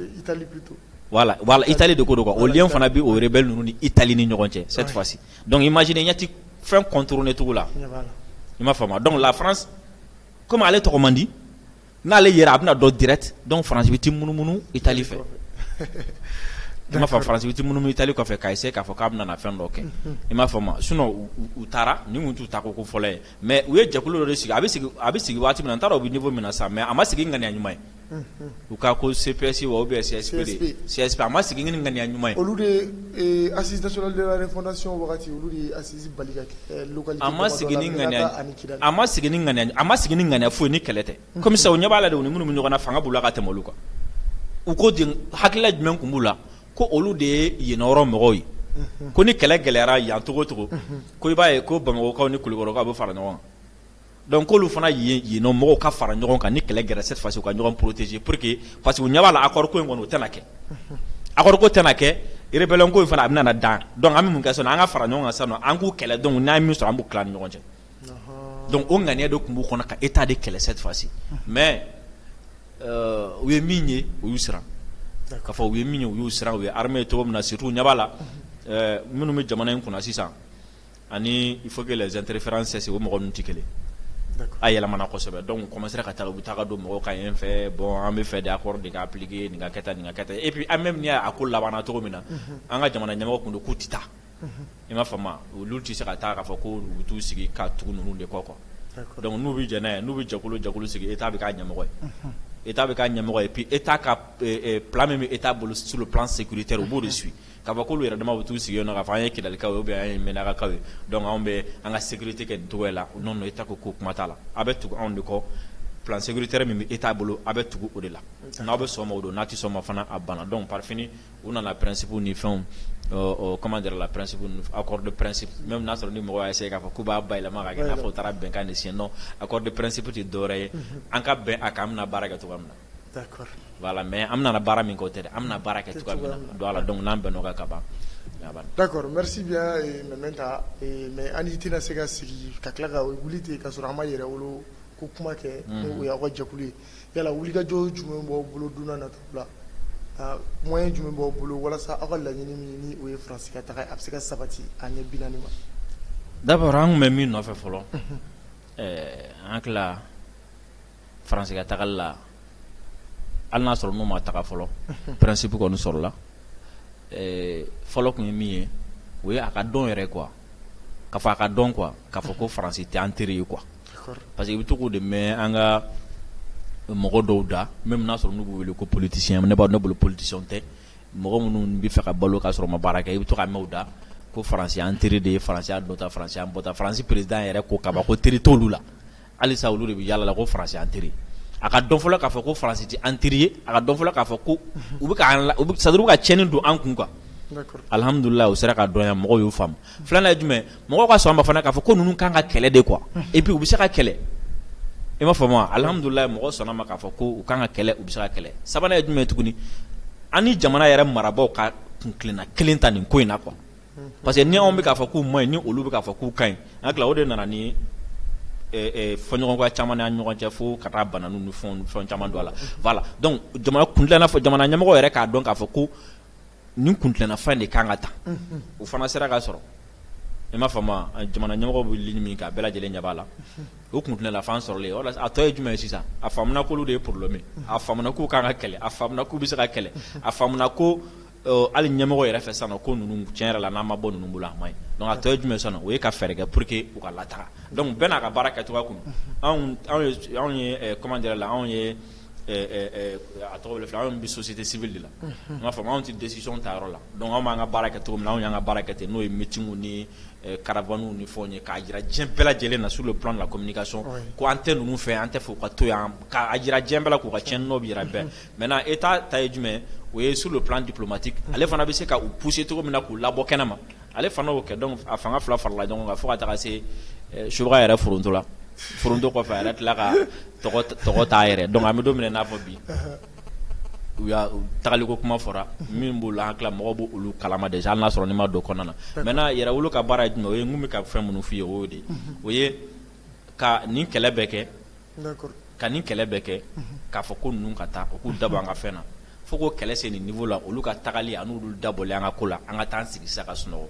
Italie de ko don o lien fana bɛ o rebelle ninnu ni Italie ni ɲɔgɔn cɛ cette fois ci donc i m'a ye ti fɛn contourner cogo la i m'a faamu donc la France comme ale tɔgɔ man di n'ale yɛrɛ a bɛna don direct donc Faransi bɛ ti munumunu Italie fɛ i m'a faamu Faransi bɛ ti munumunu Italie kɔfɛ k'a essayer k'a fɔ k'a bɛna fɛn dɔ kɛ i m'a faamu sinon u taara nin kun t'u taa ko ko fɔlɔ ye mais u ye jɛkulu dɔ de sigi a bɛ a bɛ sigi waati min na n t'a dɔn u bɛ niveau min na sa mais a ma sigi ŋaniya ɲuman ye u ka ko CPS wa ou bien CSP a ma sigi ni ŋaniya ɲuman ye olu a ma sigi ni ŋaniya foyi ni kɛlɛ tɛ comme ça u ɲɛ b'a la de u ni minnu bɛ ɲɔgɔn na fanga b'u la ka tɛmɛ olu kan u ko de hakilila jumɛn tun b'u la ko olu de ye yen yɔrɔ mɔgɔw ye ko ni kɛlɛ gɛlɛyara yan cogo o cogo ko i b'a ye ko Bamakɔkaw ni Kulikɔrɔkaw bɛ fara ɲɔgɔn Donc k'olu fana yen yen nɔ mɔgɔw ka fara ɲɔgɔn kan ni kɛlɛ gɛlɛyara cette fois ci u ka ɲɔgɔn protéger pour que parce que u ɲɛ b'a la accord ko in kɔni o tɛna kɛ unhun accord ko tɛna kɛ rebellion ko in fana a bɛna na dan donc an bɛ mun kɛ sisan nɔ an ka fara ɲɔgɔn kan sisan nɔ an k'u kɛlɛ donc n'an ye min sɔrɔ an b'u tila an ni ɲɔgɔn cɛ ɔnhɔɔn donc o ŋaniya de tun b'u kɔnɔ ka Etat de kɛlɛ cette fois ci unhun mais euh u ye min ye u y'u siran d'accord k'a fɔ u ye min ye u y'u siran u ye armée ye cogo min na surtout u ɲɛ b'a la unhun ɛɛ minnu bɛ jamana in kunna sisan ani il faut que les interferences cessent o mɔgɔ ninnu tɛ kelen ye, d'accord a yɛlɛmana kosɛbɛ donc u commencer ka taa u bɛ taa ka don mɔgɔw kan yen fɛ bon an bɛ fɛ de accord de ka appliquer nin ka kɛ tan nin ka kɛ tan et puis an bɛ min ye a ko labanna cogo min na an ka jamana ɲɛmɔgɔ tun don k'u tɛ taa i m'a faamu wa olu tɛ se ka taa k'a fɔ k'u bɛ t'u sigi ka tugu ninnu de kɔ quoi d'accord donc n'u bɛ jɛn n'a ye n'u bɛ jɛkulu o jɛkulu sigi Etat bɛ k'a ɲɛmɔgɔ ye Etat bɛ k'a ɲɛmɔgɔ ye puis Etat ka plan min bɛ Etat bolo sur le plan sécuritaire u b'o de suit Ka fɔ k'olu yɛrɛ dama bɛ t'u sigi yen nɔ k'a fɔ an ye Kidalikaw ye ou bien an ye Mɛnakakaw ye donc anw bɛ an ka sécurité kɛ nin cogoya in na non non Etat ko k'o kuma t'a la, aw bɛ tugu anw de kɔ plan sécuritaire min bɛ Etat bolo aw bɛ tugu o de la, n'aw bɛ sɔn o ma o don, n'aw tɛ sɔn o ma fana a banna donc par fini u nana principes ni fɛnw ɔ comment dire la principes ninnu accord de principe même n'a y'a sɔrɔ ni mɔgɔw y'a essayer k'a fɔ k'u b'a bayɛlɛma k'a kɛ i n'a fɔ u taara bɛnkan de signer non accord de principe tɛ dɔwɛrɛ ye an ka bɛn a kan an bɛna baara kɛ cogoya min na Mais an bɛna baara min kɛ o tɛ dɛ an bɛna baara kɛ cogoya min na donc a la donc n'an bɛnna o kan ka ban d'accord merci bien Mementa mais an tɛna se ka sigi ka tila ka wuli ten ka sɔrɔ an ma Yɛrɛwolo ko kuma kɛ n'o ye aw ka jɛkulu ye yala wulikajɔ jumɛn b'aw bolo don nataw la moyen jumɛn b'aw bolo walasa aw ka laɲini min n'o ye Faransi ka taga a bɛ se ka sabati a ɲɛ binaani ma d'abord an tun bɛ min nɔfɛ fɔlɔ an France ka tagali la, hali n'a y'a sɔrɔ n'u ma taga fɔlɔ, unhun, principe kɔni sɔrɔla, ɛɛ fɔlɔ tun ye min ye, o ye a ka dɔn yɛrɛ quoi k'a fɔ a ka dɔn quoi k'a fɔ ko France tɛ an teri ye quoi parce que i bɛ to k'o de mɛn an ka mɔgɔ dɔw da même n'a sɔrɔ n'u b'u wele ko politiciens ne b'a ne bolo politiciens tɛ mɔgɔ minnu bɛ fɛ ka balo k'a sɔrɔ u ma baara kɛ i bɛ to k'a mɛn u da ko France y'an teri de ye France y'an donda France y'an bɔda France président yɛrɛ ko kaban ko teri t'olu la halisa olu de bɛ yaala la ko France y'an teri a ka dɔn fɔlɔ k'a fɔ ko France tɛ an teri ye a ka dɔn fɔlɔ k'a fɔ ko u bɛ sadu ka cɛnni don an kun quoi alihamdulila o sera ka dɔn mɔgɔw y'o faamu filanan ye jumɛn mɔgɔ ka sɔn a ma fana k'a fɔ ko ninnu kan ka kɛlɛ de quoi et puis u bɛ se ka kɛlɛ i m'a faamu alihamdulila mɔgɔ sɔnna a ma k'a fɔ ko u kan ka kɛlɛ u bɛ se ka kɛlɛ sabanan ye jumɛn tuguni an jamana yɛrɛ marabagaw ka kuntilenna kelen ta nin ko in na quoi Parce que ni anw bɛ k'a fɔ k'u ma ɲi ni olu bɛ k'a fɔ k'u ka ɲi an hakili la o de nana ni fɔɲɔgɔnkɔ caman ni an ni ɲɔgɔn cɛ fo ka taa bananni ni fɛnw ni fɛn caman don a la voilà donc jamana kuntilenna fo jamana ɲɛmɔgɔ yɛrɛ k'a dɔn k'a fɔ ko nin kuntilenna fɛn in de ka kan ka ta unhun o fana sera ka sɔrɔ i m'a faamu a jamana ɲɛmɔgɔ bɛ ligne min kan a bɛɛ lajɛlen ɲɛ b'a la o kuntilenna fɛn sɔrɔlen voilà a tɔ ye jumɛn ye sisan a faamuna k'olu de ye problème ye a faamuna k'u ka kan ka kɛlɛ a faamuna k'u bɛ se ka kɛlɛ a faamuna ko hali ɲɛmɔgɔ yɛrɛ fɛ sisan ko ninnu tiɲɛ yɛrɛ la n'a ma bɔ ninnu bolo a man ɲi donc a tɔ ye jumɛn sisan o ye ka fɛɛrɛ kɛ pour que u ka lataa donc bɛɛ n'a ka baara kɛ cogoya kun anw ye kuma yɛrɛ la anw ye a tɔgɔ fila anw bɛ société civile de la i m'a faamu anw tɛ décision ta yɔrɔ la donc anw b'an ka baara kɛ cogo min anw y'an ka baara kɛ ten n'o ye meeting ni caravanew ni fɛnw ye k'a jira diɲɛ bɛɛ lajɛlen na sur le plan de la communication ko an tɛ ninnu fɛ an t'a fɛ u ka to yan k'a jira diɲɛ bɛɛ la k'u ka cɛn nɔ bɛ yɔrɔ bɛɛ Maintenant état ta ye jumɛn o ye sur le plan diplomatique ale fana bɛ se k'u pousser cogo min na k'u labɔ kɛnɛ ma ale fana y'o kɛ donc a fanga fila farala ɲɔgɔn kan fo ka taa se subaa yɛrɛ forontola foronto kɔfɛ a yɛrɛ tila ka tɔgɔ t'a yɛrɛ donc an bɛ don min na n'a fɔ bi u ka tagaliko kuma fɔra min b'o la n hakili la mɔgɔ b'olu kalama déjà n'a sɔrɔ n'i ma don a kɔnɔna na maintenant Yɛrɛwolo ka baara de n'o ye n bɛ ka fɛn minnu fɔ i ye o de o ye ka nin kɛlɛ bɛɛ kɛ ka nin kɛlɛ bɛ kɛ k'a fɔ ko ninnu ka taa u k'u dabɔ an ka fɛn na fo ko kɛlɛ se nin niveau la olu ka tagali ani olu dabɔli an ka ko la an ka taa sigi sa ka sunɔgɔ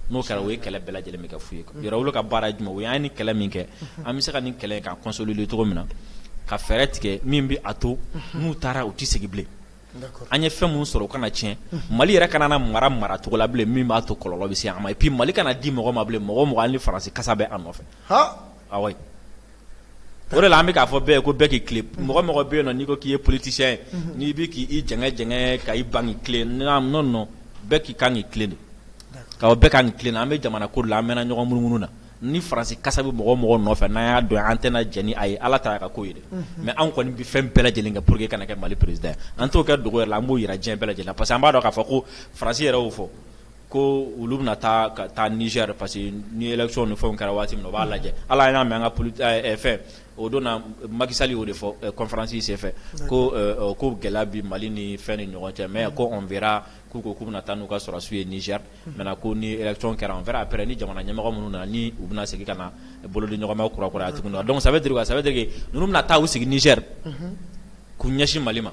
n'o kɛra o ye kɛlɛ bɛɛ lajɛlen bɛ kɛ fu ye yɛrɛwolo ka baara ye jumɛn ye an ye nin kɛlɛ min kɛ an bɛ se ka nin kɛlɛ ka consolider cogo min na ka fɛɛrɛ tigɛ min bɛ a to n'u taara u tɛ segin bilen an ye fɛn minnu sɔrɔ u kana tiɲɛ mali yɛrɛ kana na mara mara cogo la bilen min b'a to kɔlɔlɔ bɛ se an ma et puis mali kana di mɔgɔ ma bilen mɔgɔ o mɔgɔ ni faransi kasa bɛ a nɔfɛ O de la an bɛ k'a fɔ bɛɛ ye ko bɛɛ k'i tilen mɔgɔ o mɔgɔ bɛ yen n'i ko k'i ye politisiyɛn ye n'i bɛ k'i jɛngɛ ka i ban non bɛɛ ka kan k'i tilen de bɛɛ ka kan k'i tilen an bɛ jamana ko la an bɛ ɲɔgɔn munumunu na ni faransi kasa bɛ mɔgɔ o mɔgɔ nɔfɛ n'an y'a dɔn an tɛna jɛn n'a ye ala ta a ka ko ye mais anw kɔni bɛ fɛn bɛɛ lajɛlen kɛ pour que kana kɛ mali président an t'o kɛ dogo la an b'o jira diɲɛ bɛɛ lajɛlen parce que an b'a dɔn k'a fɔ ko faransi yɛrɛ y'o fɔ Ko olu bɛna taa ka taa Niger parce que ni élection ni fɛnw kɛra waati min na u b'a lajɛ hali an y'a mɛn an ka poli ɛ fɛn o don na Macky Sall y'o de fɔ ɛ conférence senfɛ ko ɛ ko gɛlɛya bɛ Mali ni fɛn ni ɲɔgɔn cɛ mais ko on verra k'u ko k'u bɛna taa n'u ka sɔrɔdasiw ye Niger maintenant ko ni élection kɛra on verra après ni jamana ɲɛmɔgɔ minnu nana ni u bɛna segin ka na bolodiɲɔgɔnma kurakuraya tuguni wa donc ça veut dire quoi ça veut dire que ninnu bɛna taa u sigi Niger k'u ɲɛsin Mali ma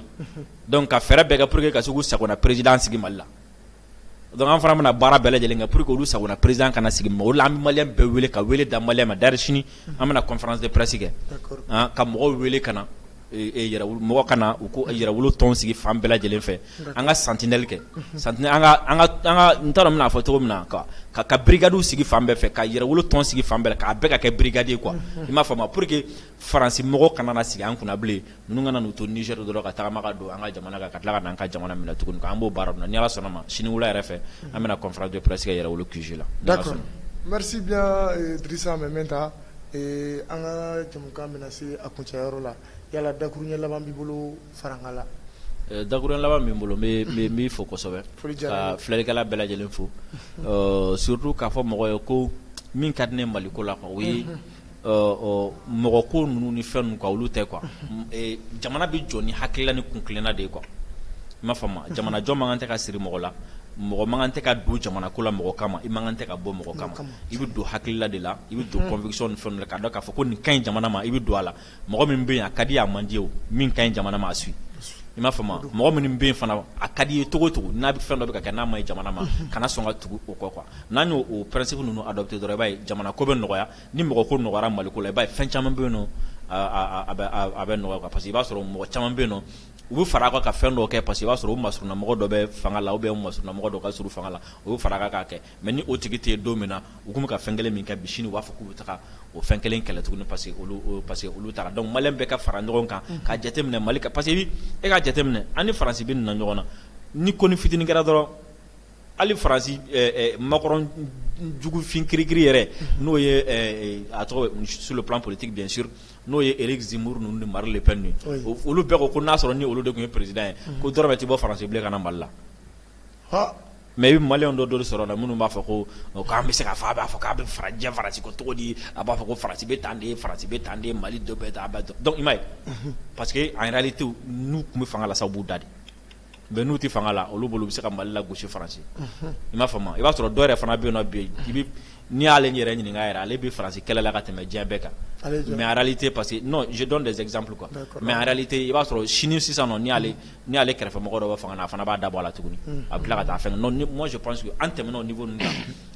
donc ka fɛɛrɛ bɛɛ kɛ pour que ka se k'u sagona président sigi Mali la Donc an fana bɛna baara bɛɛ lajɛlen kɛ pour que olu sagona président kana sigi o de la an bɛ malien bɛɛ wele ka wele da malien ma d'ailleurs sini an bɛna conférence de presse kɛ ka mɔgɔw wele ka na mɔgɔw ka na u k'o yɛrɛwolo tɔn sigi fan bɛɛ lajɛlen fɛ an ka sentinelle kɛ sentinelle an ka an ka n t'a dɔn n bɛna fɔ cogo min na quoi ka brigades sigi fan bɛɛ fɛ ka yɛrɛwolo tɔn sigi fan bɛɛ k'a bɛɛ ka kɛ brigade ye quoi i m'a faamu wa pour que Faransi mɔgɔ kana na sigi an kunna bilen ninnu kana n'u to Niger dɔrɔn ka tagama ka don an ka jamana kan ka tila ka na an ka jamana minɛ tuguni k'an b'o baara ninnu na ni Ala sɔnna a ma sini wula yɛrɛ fɛ an bɛna conférence de presse kɛ Yɛrɛwolo QG la d'accord merci bien Drissa Mɛmɛnta ee an ka jɛmukan bɛna se a kuncɛ yɔrɔ la yala dakuruɲɛ laban b'i bolo farankan la la ee dakuruɲɛ laban min bɛ n bolo n b'i fo kosɛbɛ foli diyara n ye ka filɛlikɛla bɛɛ lajɛlen fo surtout k'a fɔ mɔgɔ ye ko min ka di ne ye Mali ko la quoi o ye Mɔgɔ ko ninnu ni fɛn ninnu quoi olu tɛ quoi jamana bɛ jɔ ni hakilila ni kun kelenna de ye quoi i m'a faamu jamanajɔ man kan tɛ ka siri mɔgɔ la mɔgɔ man kan tɛ ka don jamana ko la mɔgɔ kama i man kan tɛ ka bɔ mɔgɔ kama i bɛ don hakilila de la i bɛ don conviction ni fɛnw la k'a dɔn k'a fɔ ko nin ka ɲi jamana ma i bɛ don a la mɔgɔ min bɛ yen a ka di a man di min ka ɲi jamana ma a suivre i m'a faamu mɔgɔ minnu bɛ yen fana a ka di i ye cogo o cogo n'a bɛ fɛn dɔ bɛ kɛ n'a man ɲi jamana ma kana sɔn ka tugu o kɔ quoi n'an y'o principe ninnu adopter dɔrɔn i b'a ye jamana ko bɛ nɔgɔya ni mɔgɔ ko nɔgɔyara mali ko la i b'a ye fɛn caman bɛ yen nɔn a bɛ nɔgɔya quoi parce que i b'a sɔrɔ mɔgɔ caman bɛ yen nɔ u bɛ fara a kan ka fɛn dɔw kɛ parce que i b'a sɔrɔ u masurunna mɔgɔ dɔ bɛ fanga la ou bien u masurunna mɔgɔ dɔ ka surun fanga la o bɛ fara a kan k'a kɛ Mais ni o tigi tɛ yen don min na u tun bɛ ka fɛn kelen min kɛ bi sini u b'a fɔ k'u bɛ taa o fɛn kelen kɛlɛ tuguni parce que olu taara donc malien bɛɛ ka fara ɲɔgɔn kan ka jateminɛ mali kan parce que e ka jateminɛ an ni faransi bɛ nin na ɲɔgɔn na ni ko ni fitini kɛra dɔrɔn hali faransi Macron jugufin kirikiri yɛrɛ n'o ye a tɔgɔ sur le plan politique bien sûr n'o ye Éric Zemmour ninnu ni Marine Le Pen ye olu bɛɛ ko n'a sɔrɔ ni olu de tun ye président ye ko dɔrɔmɛ tɛ bɔ faransi bilen ka na mali la Mais i bɛ malien dɔ dɔw sɔrɔ la minnu b'a fɔ ko k'an bɛ se k'a fɔ a b'a fɔ k'a bɛ farajɛ faransi ko cogo di a b'a fɔ ko faransi bɛ tan de faransi bɛ tan de mali dɔ bɛ tan donc i m'a ye parce que en réalité n'u tun bɛ fanga la sa u b'u da de mais n'u tɛ fanga la olu bolo u bɛ se ka mali lagosi faransi i m'a faamu i b'a sɔrɔ dɔw yɛrɛ fana bɛ yen nɔ bi n'i y'ale yɛrɛ ɲininka yɛrɛ ale bɛ faransi kɛlɛ la ka tɛmɛ diɲɛ bɛɛ kan mais en réalité parce que non je donne des exemples quoi mais en réalité i b'a sɔrɔ sini sisan nɔ ni ale kɛrɛfɛmɔgɔ dɔ bɛ fanga na a fana b'a da bɔ a la tuguni a bɛ tila ka taa fɛn non moi je pense que an tɛmɛna o niveau la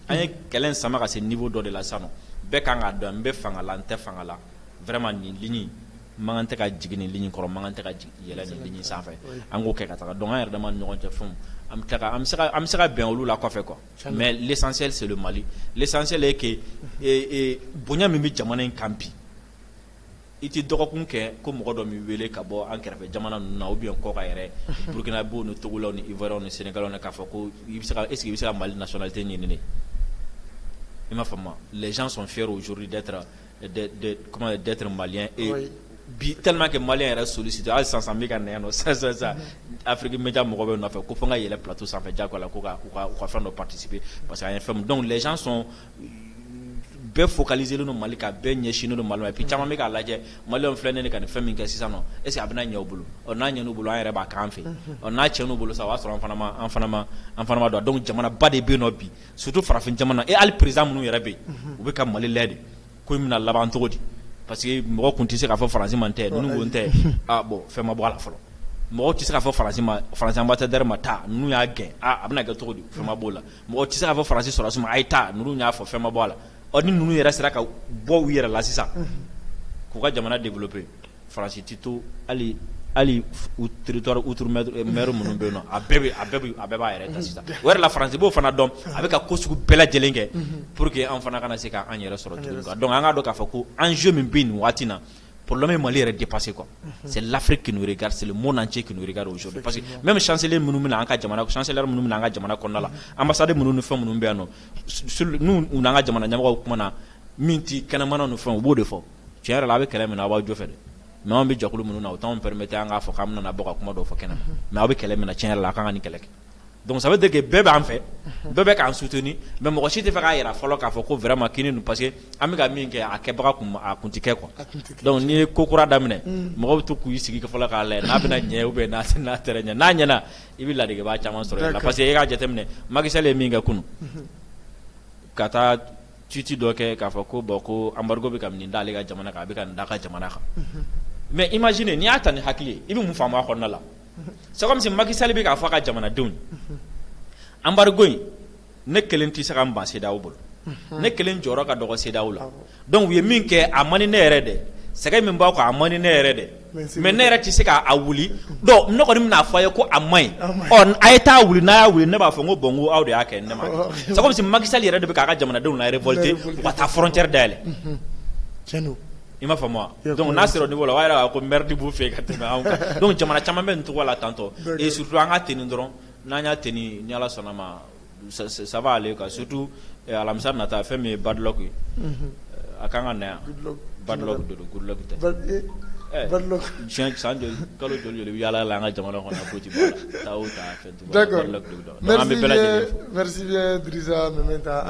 an ye kɛlɛ sama ka se niveau dɔ de la sisan nɔ bɛɛ ka kan k'a dɔn n bɛ fanga la n tɛ fanga la vraiment nin ligne mankan tɛ ka jigin nin ligne kɔrɔ mankan tɛ ka yɛlɛ nin ligne sanfɛ an k'o kɛ ka taa donc an yɛrɛ dama ni ɲɔgɔn cɛ fɛnw an bɛ se ka bɛn olu la kɔfɛ quoi mais l'essentiel c'est le mali l'essentiel est que bonya min bɛ jamana in kan bi I tɛ dɔgɔkun kɛ ko mɔgɔ dɔ m'i wele ka bɔ an kɛrɛfɛ jamana ninnu na ou bien kɔkan yɛrɛ Burkinabèw ni Togolaw ni Ivoirien ni Senegalais k'a fɔ ko i bɛ se ka est ce que i bɛ se ka Mali nationalité ɲini ne ye i m'a faamu les gens sont fiers aujourd'hui d'être comment dire d'être malien et bi tellement que malien yɛrɛ sollicité hali sisan n bɛ ka na yan nɔ sisan sisan sisan Afrique media mɔgɔw bɛ n nɔfɛ ko fo n ka yɛlɛn plateau sanfɛ jagoya la ko ka u ka fɛn dɔ participer parce que an ye fɛn min donc les gens sont bɛɛ focaliselen don mali kan bɛɛ ɲɛsinnen don mali ma et puis caman bɛ k'a lajɛ malienw filɛ ne ka nin fɛn min kɛ sisan est ce que a bɛna ɲɛ u bolo n'a ɲɛn'u bolo an yɛrɛ b'a k'an fɛ n'a tiɲɛn'u bolo sa o y'a sɔrɔ an fana ma don donc jamanaba de bɛ yen nɔ bi surtout farafin jamana et hali président minnu yɛrɛ bɛ yen u bɛ ka mali lajɛ de ko in bɛna laban cogo di parce que mɔgɔ tun tɛ se k'a fɔ faransi ma n tɛ ninnu ko n tɛ bon fɛn ma bɔ a la fɔlɔ mɔgɔ tɛ se k'a fɔ faransi ambassadeur ma taa ninnu y'a gɛn a bɛna kɛ cogo di fɛn ma bɔ a la mɔgɔ tɛ se k'a fɔ faransi sɔrɔdasiw ma a ye taa ninnu y'a fɔ fɛn ma bɔ a la ɔ ni ninnu yɛrɛ sera ka bɔ u yɛrɛ la sisan k'u ka jamana développer faransi tɛ to hali hali territoire outre-mer minnu bɛ yen nɔ a bɛɛ b'a yɛrɛ ta sisan o yɛrɛ la faransi b'o fana dɔn a bɛ ka ko sugu bɛɛ lajɛlen kɛ pour que an fana kana se k'an yɛrɛ sɔrɔ donc an k'a dɔn k'a fɔ ko enjeu min bɛ nin waati na Porola ye mali yɛrɛ de pase kuwa se lafiri kin garisili mo na cɛ kin gariso parce que mɛ bɛ sanseeli minnu min an ka jamana sanse minnu min an ka jamana kɔnɔna la an masadi minnu ni fɛn minnu bɛ yan nɔn n' ka jamana ɲa kuma na min tɛ kɛnɛmana ni fɛn u b'o de fɔ cɛn yɛrɛ a bɛ kɛlɛ min a b'a jɔ fɛ n'an bɛ jɔkulu minnu na o anw bɛ taa an k'a fɔ k' bɛna bɔ ka kuma dɔ fɔ kɛnɛ na mɛ aw bɛ kɛlɛ minɛ cɛn yɛrɛ la a ka kan ka nin kɛlɛ kɛ Donc ça veut dire que bɛɛ b'an fɛ bɛɛ bɛ k'an soutenir mais mɔgɔ si t'a fɛ k'a yira fɔlɔ k'a fɔ ko vraiment kini dun parce que an bɛ ka min kɛ a kɛbaga tun a tun tɛ kɛ quoi donc n'i ye ko kura daminɛ mɔgɔw bɛ to k'u sigi fɔlɔ k'a lajɛ n'a bɛna ɲɛ ou bien n'a tɛna ɲɛ n'a ɲɛna i bɛ ladegebaga caman sɔrɔ a la parce que e k'a jateminɛ Macky Sall ye min kɛ kunun ka taa tweet dɔ kɛ k'a fɔ ko bon ko embargo bɛ ka nin da ale ka jamana kan a bɛ ka nin d'a ka jamana kan mais imaginez n'i y'a ta ni hakili ye i bɛ mun faamu a kɔnɔna la c'est comme si Macky Sall bɛ k'a fɔ a ka jamanadenw ye embargo in ne kelen tɛ se ka n ban CEDEAO bolo ne kelen jɔyɔrɔ ka dɔgɔ CEDEAO la donc u ye min kɛ a man di ne yɛrɛ dɛ sɛgɛn min b'aw kan a man di ne yɛrɛ dɛ mais ne yɛrɛ tɛ se k'a wuli donc ne kɔni bɛna a fɔ aw ye ko a man ɲi a ye taa wuli n'a y'a wuli ne b'a fɔ ko bon n ko aw de y'a kɛ ne m'a kɛ c'est comme si Macky Sall yɛrɛ de bɛ k'a ka jamanadenw larévolter ka taa frontière dayɛlɛ I m'a faamu dɔnku n'a sɔrɔ nin bolo a' ko mti b' fɛ ka tɛmɛ don jamana caman bɛ nin tɔgɔ la tantɔ e su an ka tiin dɔrɔn n'an y'a ti ni ni ala sɔnna ma saba ka sotu alamisa na taa fɛn min ye badɔ ye a k'an ka na yan ba don san kalo joli u yalala la an ka jamana kɔnɔ ko an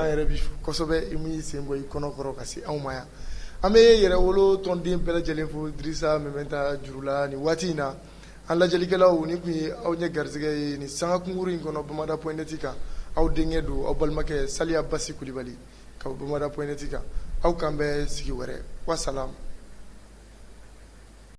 yɛrɛ bisɛbɛ i sen bɔ i kɔnɔ kɔrɔ ka se anw ma yan An bɛ Yɛrɛwolo tɔnden bɛɛ lajɛlen fo Drissa Meminta juru la nin waati in na an lajɛlikɛlaw nin tun ye aw ɲɛ garisɛgɛ ye nin sanga kunkuru in kɔnɔ bamada point net kan aw denkɛ don aw balimakɛ Saliya Basi Kulibali ka bɔ bamada point net kan aw k'an bɛn sigi wɛrɛ wasalam